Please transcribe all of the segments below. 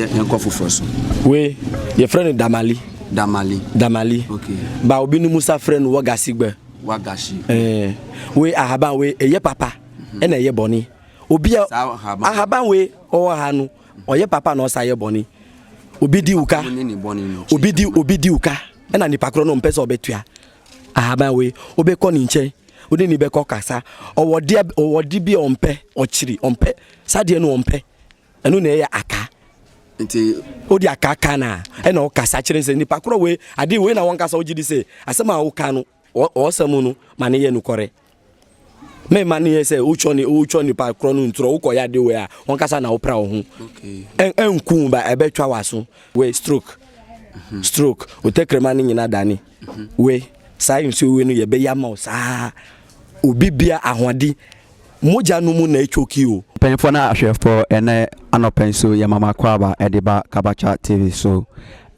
yɛnkɔ foforɔ so wei yɛfrɛ no damali damali damali okay. ba obi no musa frɛ no wagasi gbɛ wagasi eh, wei ahaban wei ɛyɛ papa mhm. ɛna ɛyɛ bɔne obi a ahaban wei ɔwɔ ha no ɔyɛ papa na ɔsa yɛ bɔne obi di uka obi di obi di uka ɛna nipa korɔ no mpɛ sɛ ɔbɛtua ahaban wei wobɛkɔ ne nkyɛn wode ne bɛkɔ kasa ɔwɔdeɛ ɔwɔde bi ɔmpɛ ɔkyiri ɔmpɛ sadeɛ no ɔmpɛ Ɛno na ɛyɛ aka. Nti wode aka ka no a, ɛna wokasa kyerɛ sɛ nipa korɔ wei, ade wei na wɔnkasa wogye di sɛ asɛm a woka no ɔɔsa mu no ma no yɛ nokɔrɛ. Mɛma no yɛ sɛ wotwa nipa korɔ no ntorɔ wokɔyɛ ade wei a wɔnkasa na wopra wo ho. Ɛnku ba ɛbɛtwa w'aso wei stroke. Mhm. Stroke otɛkrɛma no nyina dane mhm. wei saa nsuo wei no yɛbɛyɛ ama wo saa obi bia ahoɔden mogya no mu na ɛtwoki o. Mpanyinfoɔ ne ahwɛfoɔ ɛnɛ anɔpa yi so yɛ Mama Kwaaba ɛde ba Kabacha TV so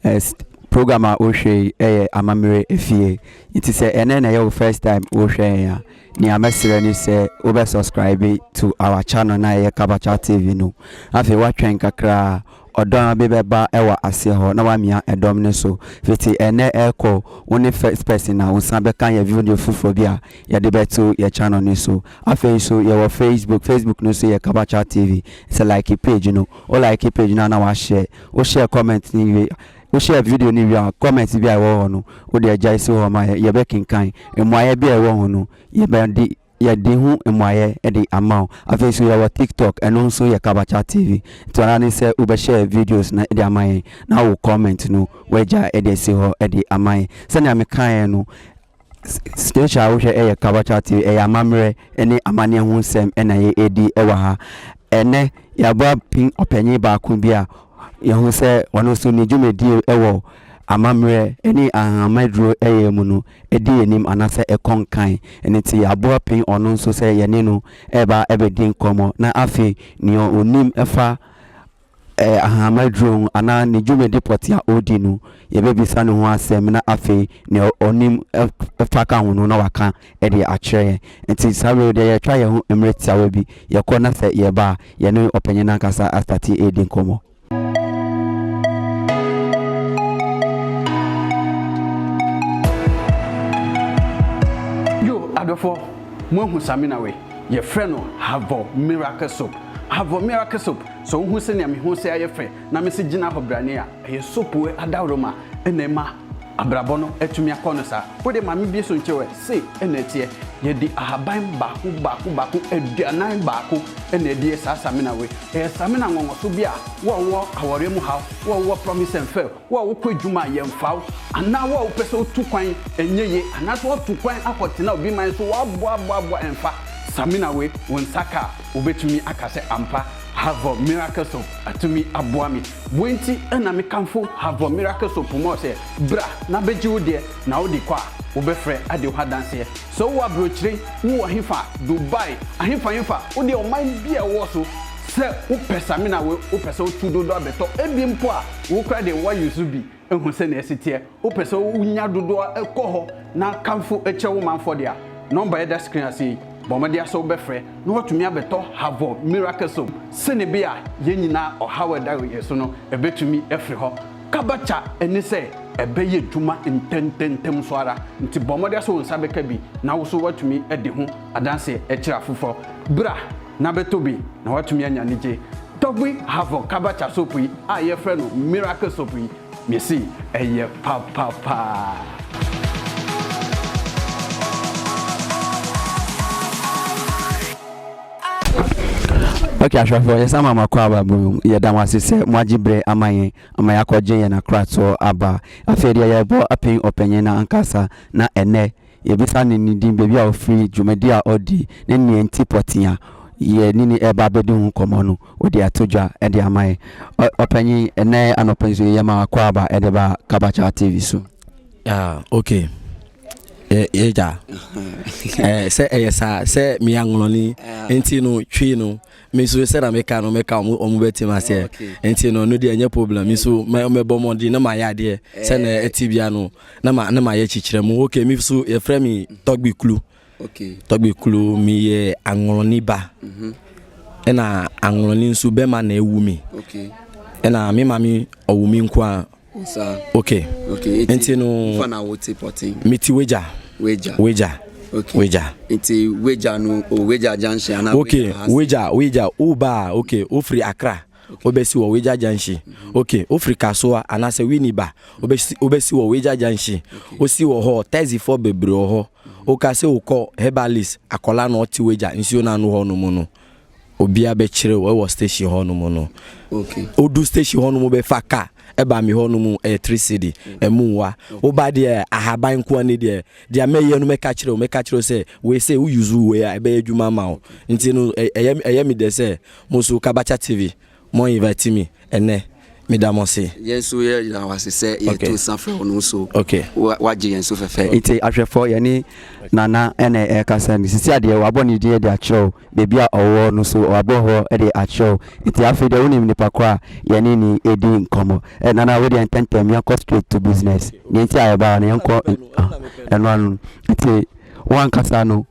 ɛs program a wohwɛ yi ɛyɛ amammerɛ efie nti sɛ ɛnɛ na ɛyɛ wo first time wohwɛ yɛn a nea mɛsrɛ ne sɛ wobɛ subscribe to our channel no a ɛyɛ Kabacha TV no afei woatwɛn kakra a Ɔdɔ a bi bɛba wɔ aseɛ hɔ na wamia ɛdɔm no so fiti ɛnɛ ɛkɔ wo ne first person a wo san bɛka yɛ video foforɔ bi a yɛde bɛto yɛ channel no so afei nso yɛwɔ facebook facebook no nso yɛ kabacha tv sɛ like page no wo like page no a na wa share wo share comment no wie wo share video no wie a comment bi a ɛwɔ hɔ no wode agyae si hɔ ma yɛ yɛbɛkenkan mmuaeɛ bi a ɛwɔ ho no yɛbɛdi Yɛde ho mmuaeɛ de ama wo. Afei nso yɛwɔ TikTok, ɛno nso yɛ Kabacha TV. Nti ara ne sɛ wobɛ share videos no de ama yɛn na wo comment no wagya de asi hɔ de ama yɛn. Sɛnea mekaeɛ no, station a wohwɛ yɛ Kabacha TV, ɛyɛ amammerɛ ne amaneɛ ho nsɛm na yɛdi wɔ ha. Ɛnɛ yɛabɔ apin ɔpanyin baako bi a yɛhu sɛ ɔno nso ne dwumadie wɔ amammerɛ ne ahahammaduro yɛ mu no. ɛdi anim anaasɛ ɛkɔ nkan, ɛno nti yɛaboa pɛn ɔno nso sɛ yɛne no reba abɛdi nkɔmmɔ, na afei nea ɔnim fa Ahama aduro ho anaa ne dwumadi pɔtee a ɔredi no, yɛbɛbisa ne ho asɛm na afei nea ɔnim fa ka ho no na waka de akyerɛ yɛn. Nti saa berɛ yi deɛ yɛtwa yɛn ho mmerɛ tiawa bi, yɛkɔ na sɛ yɛba a, yɛne ɔpanyin no ankasa astate redi nkɔmmɔ. yo adɔfoɔ moahu samina wei yɛfrɛ no havɔ miracle soap havɔ miracle soap sɛ wohu sɛnea me ho sɛ ayɛ fɛ na mese gyina hɔ brane a ɛyɛ soap adaworo ma ɛna ɛma Abrabɔ no atumi akɔ no saa. Wo de maame bi so nkyɛ wo ɛ, sei na ɛteɛ, Yɛde ahaban baako baako baako aduanan baako na ɛdeɛ saa samina wei. Ɛyɛ samina nwɔnwɔso bi a wo a wowɔ awɔreɛ mu haw, wo a wowɔ promise and fail, wo a wokɔ adwuma a yɛmfa wo, anaa wo a wopɛ sɛ wotu kwan ɛnyɛ yie, anaasɛ woatu kwan akɔ tena obi man so woaboaboaboa ɛmfa samina wei wo nsa ka a wobɛtumi aka sɛ ampa Havre Miracle Soap atumi aboa me. Woi nti na me kamfo Havre Miracle Soap mɔ sɛ, bra na bɛgye wo deɛ, na wo de kɔ a, wo bɛ frɛ ade ho adanseɛ. Sɛ wo wɔ abrokyire, wo wɔ hefa, Dubai, ahefa hefa, wo deɛ ɔman bi a ɛwɔ so, sɛ wo pɛ samina woi, wo pɛ sɛ wo tu dodo abɛtɔ, ɛbi mpo a, wo koraa deɛ wo a use bi, Hu sɛnea ɛsi teɛ. Wopɛ sɛ wunya dodoɔ a, kɔ hɔ na kamfo kyerɛ wo manfoɔ de a. Nɔmba a ɛda screen ase yi, bɔ mmɔden ara sɛ wobɛfrɛ na woatumi abɛtɔ Havɔ Miracle Soap sɛnebea a yɛn nyinaa ɔhaw a ɛda yɛn so no bɛtumi afiri hɔ kabaca. Ɛne sɛ ɛbɛyɛ adwuma ntɛmntɛmntɛm nso ara. Nti bɔ mmɔden ara sɛ wo nsa bɛka bi na wo nso woatumi adi ho adanseɛ akyerɛ afoforɔ. Bra! na bɛtɔ bi na woatumi anya anigye Dogby Havoc Kabacha soap yi a yɛfrɛ no Miracle Soap yi, mese ɛyɛ papa paa. Ok ahwɛfoɔ yɛsan ma makɔ aba mu yɛda mo ase sɛ moagye berɛ ama yɛn ama yɛakɔgye yɛn akoratoɔ aba afei deɛ yɛbɔ apɛn ɔpanyin no ankasa na ɛnɛ Yɛbisa no ne din, baabi a ɔfiri, dwumadi a ɔdi, ne nea enti pɔtee a yɛne no reba abɛdi ho nkɔmmɔ no, ɔde ato dwa de ama yɛn. Ɔpanyin, ɛnnɛ anɔpa yi nso yɛyɛ ma akwaaba de ba Kabakya TV so. Ah, ok. Yɛgya. Sɛ ɛyɛ saa, sɛ meyɛ anwonwani nti no, twi no. me nso sɛ na meka no meka ɔmo ɔmo bɛte ma seɛ oh, nti no no deɛ ɛnyɛ problem me nso mɛbɔ mmɔden na mayɛ adeɛ sɛ na eh. ɛte bia no na ma na mayɛ kyekyerɛ mu ok me nso yɛfrɛ me tɔgbe kulu tɔgbe kulu meyɛ anwolɔni ba mhm. ɛna anwolɔni nso bɛma na ɛwu me ɛna me ma me ɔwu me nko a okay okay nti no fa na wo te pɔten me ti wagya wagya wagya okay wagya nti wagya no o oh, wagya junction ana okay wagya wagya o ba okay o firi akra wobɛsi wɔ wagya junction mm-hmm. okay o firi kasoa anaasɛ wini ba wobɛsi wobɛsi wɔ wagya junction osi wɔ hɔ taxi fɔ bebree wɔ hɔ mm-hmm. o ka sɛ o kɔ herbalist akɔla na ɔte wagya nsuo na ano hɔ no mu no. obia bɛkyerɛ o ɛwɔ station hɔ no mu no okay odu station hɔ no mu bɛfa ka ɛba mi hɔ no mu ɛyɛ three city ɛmu nwa woba deɛ ahaban nkoa ne deɛ deɛ mɛyɛ no mɛka kyerɛ o mɛka kyerɛ o sɛ wei sɛ wo use wei a ɛbɛyɛ adwuma ma o nti no ɛyɛ ɛyɛ mi dɛ sɛ mo nso kabakya tv Mo invite me ɛnɛ, me da mo ase. Yɛn nso yɛ da wo ase sɛ yɛ to nsa frɛ wo no nso wa gye yɛn so fɛfɛ. Nti ahwɛfoɔ yɛne Nana na ɛrekasa no sisi a deɛ wabɔ ne din de akyerɛ wo baabi a ɔwɔ no nso wabɔ hɔ de akyerɛ wo nti afei deɛ wonim nipa korɔ a yɛne no ɛdi nkɔmmɔ eh Nana wodeɛ ntɛntɛm yɛnkɔ straight to business deɛ nti a yɛbaa no yɛnkɔ ɛno ano nti wankasa no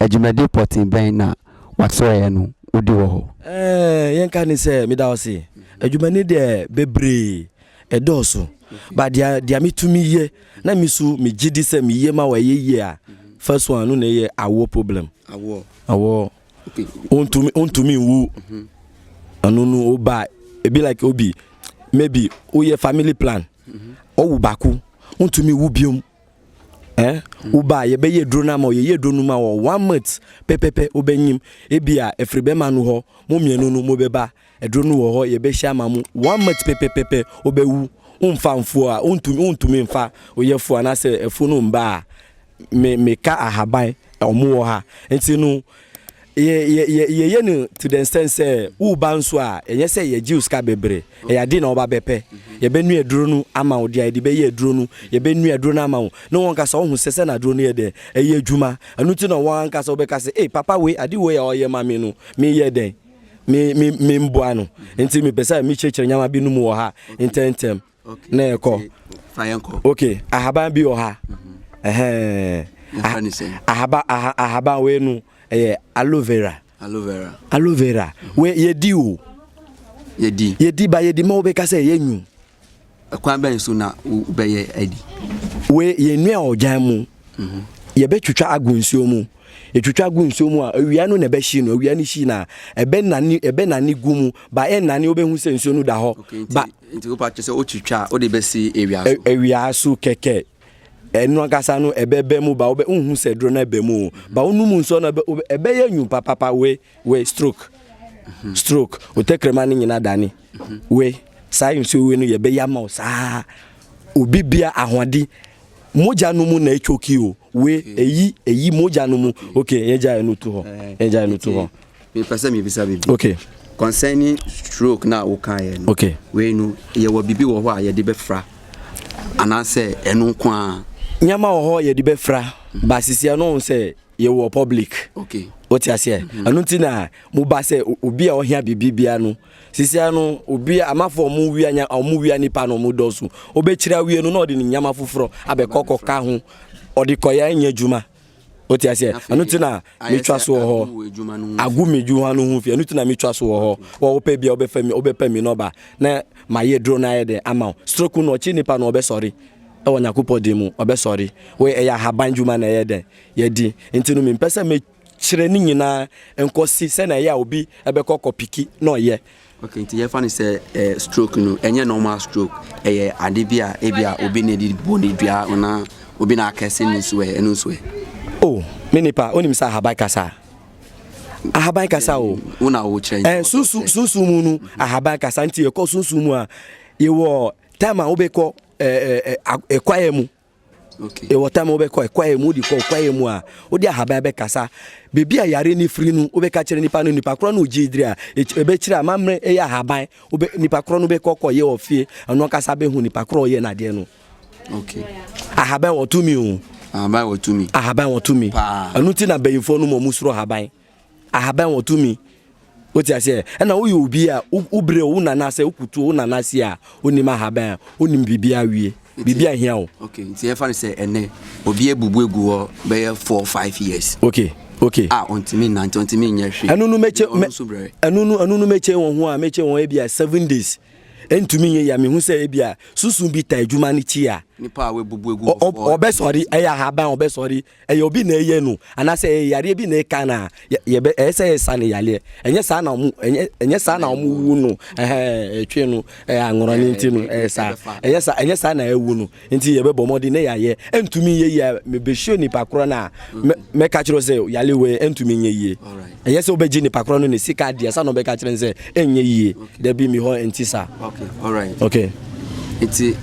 Dwumadi pɔtee bɛn na wɔakyerɛɛ no wodi wɔ hɔ? Ɛɛ, yɛnka no sɛ meda wo ase. Adwumani deɛ bebree, ɛdɔɔso. But deɛ deɛ metumi yɛ na me so megye di sɛ meyɛ ma wɔ ɛyɛ yie a, first one no na ɛyɛ awoɔ problem. Awoɔ. Awoɔ. Okay. Ontumi ontumi nwu. Ɛno no oba ebi like obi maybe woyɛ family plan. Ɔwu baako ontumi wu biom. Eh wo ba yɛ bɛ yɛ duro na ma yɛ yɛ duro no ma wɔ one month pɛpɛpɛ wo bɛ nyim ebi a efiri bɛ ma no hɔ mo mmienu no mo bɛ ba ɛduro no wɔ hɔ yɛ bɛ hyia ma mo one month pɛpɛpɛpɛ wo bɛ wu wo nfa nfuo a wo ntumi wo ntumi nfa wo yɛ fuo anasɛ afuo no mba a me me ka ahaban ɔmo wɔ ha nti no. Yɛ, yɛ, yɛ, yɛyɛ no to the extent sɛ woba nso a, ɛnyɛ sɛ yɛgye wo sika bebree. Ɛyɛ adeɛ na wɔba bɛpɛ. Yɛbɛnua aduro no ama wo, deɛ a yɛde bɛyɛ aduro no, yɛbɛnua aduro no ama wo. Ne wɔn ankasa wɔhu sɛ sɛ na aduro no yɛ dɛn, ɛyɛ adwuma. Ɛno nti na wɔn ankasa wɔbɛka sɛ, ei, papa wei, ade wei a ɔyɛ ma me no, meyɛ dɛn? Me, me, memboa no. Nti mepɛ sɛ mekyerɛkyerɛ nneɛma binom wɔ ha ntɛmntɛm. na yɛkɔ ok ahaban bi wɔ ha mhm. ahaba ahaban wei no ɛyɛ aloe vera aloe vera aloe vera mhm. wei yɛdi o yɛdi yɛdi ba yɛdi ma wobɛka sɛ yɛnwu ɛkwan bɛn so na wobɛyɛ adi wei yɛnua ɔgyan mu mhm. yɛbɛtwitwa agu nsuo mu Etwitwa gu nsuo mu a, awia no na ɛbɛhye no. Awia no hyi no a, ɛbɛnane, ɛbɛnane gu mu. Ba ɛnane, wobɛhu sɛ nsuo no da hɔ. Okay, nti, ba, nti wopɛ akyerɛ sɛ wotwitwa a, wode bɛsi awia so? Awia so kɛkɛ. Ɛno ankasa no ɛbɛbɛ mu ba, wobɛhu sɛ duro no ɛbɛ mu o. Ba wonom nsuo no ɛbɛyɛ nyu papapa wei. We, stroke, stroke, wo tɛkrɛma no nyina dane. We, saa nsuo we no yɛbɛyi ama wo saa. Obi bia ahoɔdi mogya no mu na ɛtwoki o. We, eyi, eyi mogya no mu. Ok, yɛgya yɛ no tu hɔ. Yɛgya yɛ no tu hɔ. Mepɛ sɛ mebisa biribi. Ok. Concerning stroke na wokaeɛ no. Ok. Wei no, yɛwɔ biribi wɔ hɔ a yɛde bɛfra anaasɛ ɛno nko ara? Nneɛma wɔ hɔ yɛde bɛfra, ba sisi ɛno sɛ yɛwɔ public wote aseɛ mhm. ɛno nti na moba sɛ obi a ɔhia biribi bia no sisia no obi amafo ɔmo wia nya ɔmo wia nipa na ɔmo dɔɔso ɔbɛkyerɛ awie no na ɔde ne nyama foforɔ abɛkɔkɔ ka ho ɔde kɔyɛ nyɛ adwuma wote aseɛ ɛno nti na metwa so wɔ hɔ agu me adwuma no ho fi ɛno nti na metwa so wɔ hɔ wɔwopɛ bia wobɛfa mi wobɛpɛ mi nɔba na mayɛ duro no ayɛ dɛ ama wo stroke no ɔkye nipa no ɔbɛsɔre ɛwɔ nyakopɔ din mu ɔbɛsɔre ɛyɛ ahaban dwuma na ɛyɛ dɛ Yɛadi. Enti no mempɛ sɛ mekyerɛ ne nyinaa nkɔsi sɛnea ɛyɛ a obi bɛkɔ kɔpiki na ɔyɛ. Okay, nti yɛfa no sɛ eh, stroke no, ɛnyɛ normal stroke. Ɛyɛ ade bi a ebi a obi na ɛde bɔ ne dua anaa obi na akɛse ne nso ɛ, ɛno nso ɛ. Oh, me nipa, wonim sɛ ahaban kasa. Ahaban kasa o. Wo na wo kyerɛ. Eh, sunsun, sunsun mu no, ahaban kasa nti yɛkɔ sunsun mu a, yɛwɔ time a wobɛkɔ eh, eh, eh, kwaeɛ mu. Okay. Ɛwɔ tam wobɛkɔ kwaeɛ mu wode kɔ kwaeɛ mu a wode ahaban bɛkasa baabi a yare no firi no wobɛka kyerɛ nipa no nipa korɔ no ogye diri a ɛbɛkyerɛ a mammerɛ ɛyɛ ahaban nipa korɔ no bɛkɔ kɔyɛ wɔ fie ɛno ankasa bɛhu nipa korɔ ɔyɛ no adeɛ no okay. ahaban wɔtumi o ahaban wɔtumi ahaban wɔtumi ɛno nti na bayimfoɔ no mu ɔmu soro ahaban ahaban wɔ tumi wote aseɛ ɛna woyɛ obi a wobrɛ wo nana sɛ wokutuo wo nana si a wonim ahaban a wonim biribi awie biribi ahia wo okay nti ɛfa no sɛ ɛnɛ obi abubu agu hɔ bɛyɛ 4 5 years okay okay a ɔntumi nante ɔntumi nyɛ hwee ɛno no mɛkyɛ ɛno no ɛno no mɛkyɛ wɔn ho a mɛkyɛ wɔn ebi a 7 days ɛntumi nyɛ yɛ mehu sɛ ebi a susu bi ta adwuma no kyi a nipa a wabubu agu hɔ ɔbɛsɔre ɛyɛ ahaban ɔbɛsɔre ɛyɛ obi na ɛyɛ no anaasɛ ɛyɛ yareɛ bi na ɛka no a yɛbɛ ɛyɛ sɛ yɛsa no yareɛ ɛnyɛ saa na ɔmo ɛnyɛ ɛnyɛ saa na ɔmo wu no ɛhɛn ɛtwe no ɛyɛ anworɔ ne nti no ɛyɛ saa ɛyɛ saa ɛnyɛ saa na ɛwu no nti yɛbɛbɔ mmɔden na yɛayɛ ɛntumi nyɛ yie a mebɛhyɛ nipa korɔ no a mɛka kyerɛ sɛ yareɛ wei ɛntumi nyɛ yie. Ɛyɛ sɛ wobɛgye nipa korɔ no ne sika adeɛ sa na ɔbɛka kyerɛ no sɛ ɛnyɛ yie dabi mi hɔ nti saa okay alright okay nti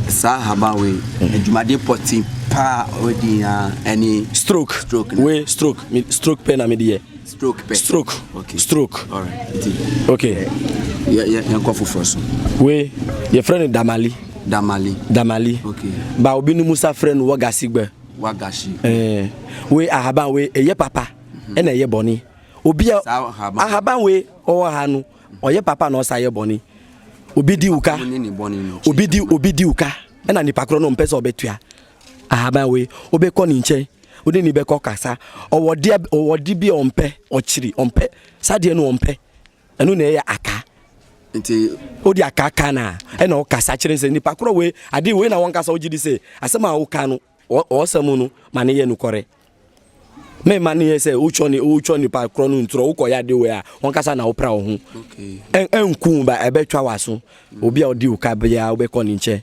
saa haba wei mm. adwumadeɛ pɔte paa ɔdi ya ɛne stroke stroke wei stroke stroke pɛ na mede yɛ stroke pɛ stroke okay stroke alright nti okay yɛnkɔ foforɔ so wei yɛfrɛ no damali damali damali okay ba obi no musa frɛ no wagasigba wagashi eh, wei ahaban wei ɛyɛ papa ɛna ɛyɛ bɔne obi a ahaban wei ɔwɔ ha no ɔyɛ papa na ɔsa yɛ bɔne obi di uka obi di obi di uka ɛna nipa korɔ no mpɛ sɛ ɔbɛtua ahaban wei wobɛkɔ ne nkyɛn wode ne bɛkɔ kasa ɔwɔ deɛ ɔwɔ de bi a ɔmpɛ ɔkyiri ɔmpɛ saa deɛ no ɔmpɛ ɛno na ɛyɛ aka nti wode aka ka no a ɛna wokasa kyerɛ sɛ nipa korɔ wei ade wei na wɔnkasa wogye di sɛ asɛm a woka no Ɔsa mu no ma ne yɛ nokware. Me ma ne yɛ sɛ wotwɔ ne wotwɔ nipa korɔ no ntorɔ wokɔ yɛ ade wei a wɔnkasa na wopra wo ho. Ɛnku ba ɛbɛtwa w'aso. Mm. Obi a ɔdi wo ka biara wobɛkɔ ne nkyɛn.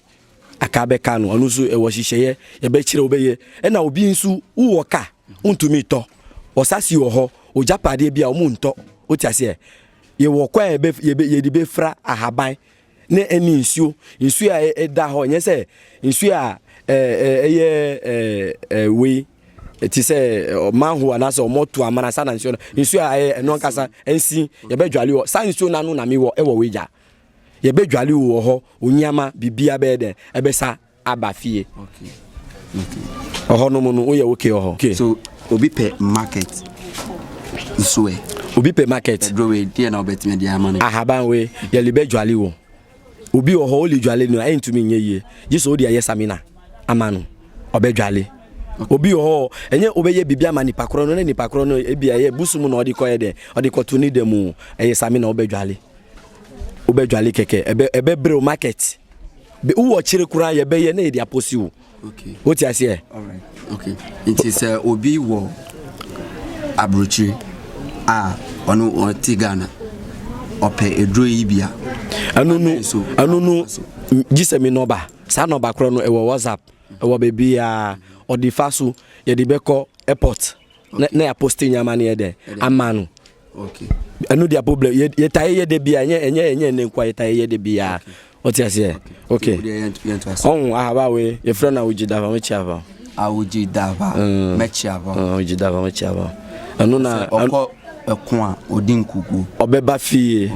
Aka bɛka no ɔno nso ɛwɔ hyehyɛeɛ yɛbɛkyerɛ wobɛyɛ. Ɛna obi nso wowɔ ka wontumi tɔ. Ɔsase wɔ hɔ ogyapadeɛ bi a wɔntɔ. Wote aseɛ? Yɛwɔ kɔ a yɛde bɛfira ahaban ne ɛne nsuo nsuo a ɛda hɔ nyɛ sɛ nsuo a ɛyɛ wei ti sɛ manhole anaasɛ ɔmɔto amana saa na nsuo no nsuo a ɛyɛ ɛno ankasa nsi yɛbɛdwale wɔ saa nsuo no ano na mewɔ ɛwɔ wei gya yɛbɛdwale wɔ hɔ onyiama biribiara bɛyɛ dɛn ɛbɛsa aba fie ɔhɔ nom no woyɛ wo ke ɔhɔ ke. so obi pɛ market nso ɛ. obi pɛ market ɛduro wei deɛ na wobɛtumi de ama no ahaban wei yɛle bɛdwale wɔ obi wɔ hɔ wole dwale no a ɛntumi nyɛ yie gye sɛ wode ɛyɛ samina ama no ɔbɛdwale obi wɔ hɔ ɛnyɛ wobɛyɛ biribi ama nipa korɔ no na nipa korɔ no ebi ɛyɛ busu mu na ɔde kɔyɛ dɛ ɔde kɔto ne da mu ɛyɛ samina wobɛdwale wobɛdwale kɛkɛ ɛbɛ ɛbɛbrɛ o market wowɔ kyere koraa yɛbɛyɛ na yɛde apɔsi wo wote aseɛ nti sɛ obi wɔ aburokyire a ɔno ɔte ghana ɔpɛ aduro yi bia ɛno no ɛno no gye sɛ me nɔba saa nɔba korɔ no ɛwɔ whatsapp ɛwɔ baabiaa ɔde fa so yɛde bɛkɔ airport na na apostle nya amane yɛ dɛ ama no ɛno dia problem yɛtae yɛ dɛ bia ɛnyɛ ɛnyɛ ɛnyɛ ɛnɛ nkoa yɛtae yɛ dɛ bia ɔte aseɛ ok ɔho ahaba we yɛfrɛ no awogye dava mɛkyi ava awogye dava mm. mɛkyi ava mm, awogye dava mɛkyi ava ɛno na ɔkɔ ɛko a ɔdi nkukuo ɔbɛba fie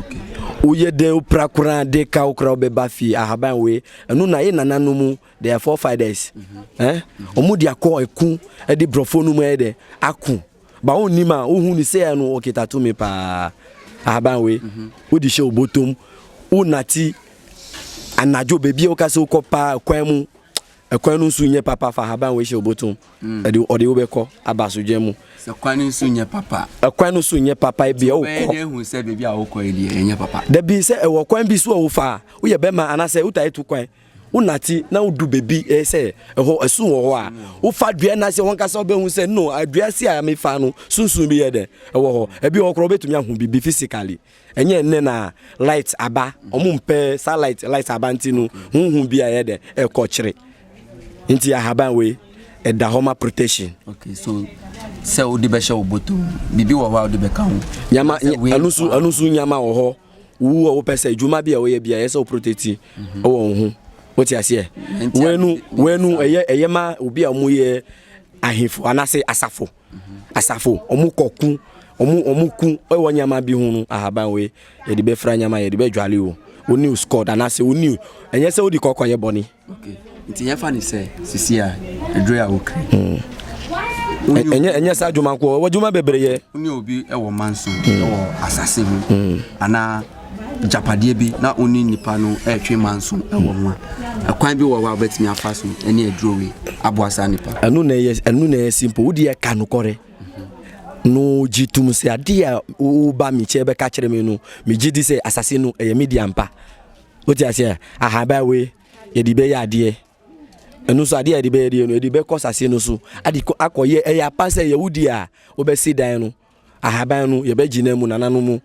woyɛ dɛn wopra koraa de ka wo koraa wobɛba fie ahaban we ɛno na yɛ nananom They are forefathers. Eh? Omu di akɔ eku ɛdi brɔfo no mu ɛyɛ dɛ ako. Ba wɔn nim a wohu ne sɛ ɛno ɔkita tumi paa. Ahaban wei. Wodi hyɛ obotom. Wo nati anadwo beebi a woka sɛ wokɔ paa kwan mu. Ɛkwan no nso nyɛ papa fa ahaban wei hyɛ obotom. Ɛde ɔde wobɛkɔ aba asodwa mu. Sɛ kwan no nso nyɛ papa. Ɛkwan no nso nyɛ papa ebi a wokɔ. Bɛyɛ ehu sɛ beebi a wokɔ ɛdi ɛnyɛ papa. Dabi sɛ ɛwɔ kwan bi so a wofa a woyɛ bɛma anasɛ wotaa etu kwan. wonate na wodu baabi eh, sɛ ɛhɔ ɛso wɔ hɔ a wofa dua no ase wankasa wobɛhu sɛ no adua ase a mefa no sunsun bi yɛ dɛ ɛwɔ hɔ ebi wɔ korɔ wobɛtumi ahu biribi physically ɛnyɛ nnɛ na light aba ɔmo mpɛ saa light light aba nti no honhu bi a yɛ dɛ ɛkɔ kyere nti ahaban wei ɛda hɔ ma protection okay so sɛ wode bɛhyɛ wo bɔtɔ biribi wɔ hɔ a wode bɛka ho nyama ɛno so nyama wɔ hɔ Wo a wopɛ sɛ adwuma bi a woyɛ bi a ɛyɛ sɛ woprotɛti wɔ wo ho. Wote aseɛ? Wenu wenu ɛyɛ ɛyɛ ma obi a wɔyɛ ahemfo anaasɛ asafo. Asafo wɔn kɔku wɔn wɔn ku wɔ nneɛma bi ho no ahaban wei yɛde bɛfira nneɛma yɛde bɛdwale o. Woni squad anaasɛ woni ɛnyɛ sɛ wodi kɔkɔ yɛ bɔne. Nti yɛfa ne sɛ sisi a aduru a wokiri. Hmm. Ɛnyɛ ɛnyɛ saa adwuma nko ɔwɔ adwuma bebree yɛ. Wone obi wɔ manso hmm. wɔ asase ho hmm. anaa japadeɛ bi na wone nipa no ɛretwe manso wɔ ho a ɛkwan bi wɔ hɔ a wobɛtumi afa so ɛne aduro wei aboa saa nipa. Ɛno na ɛyɛ ɛno na ɛyɛ simple wodi yɛ ka nokɔrɛ mhm. no gye tum sɛ adeɛ a woba me kyɛ bɛka kyerɛ me no megye di sɛ asase no ɛyɛ media mpa. Wote aseɛ? Aha, baa wei, yɛde bɛyɛ adeɛ. Ɛno nso adeɛ a yɛde bɛyɛ deɛ no, yɛde bɛkɔ sase no so. Ade kɔ akɔyɛ, ɛyɛ apa sɛ yɛwo di a, wobɛsi dan no. Ahaban no, yɛbɛgyina mu, nananom mu.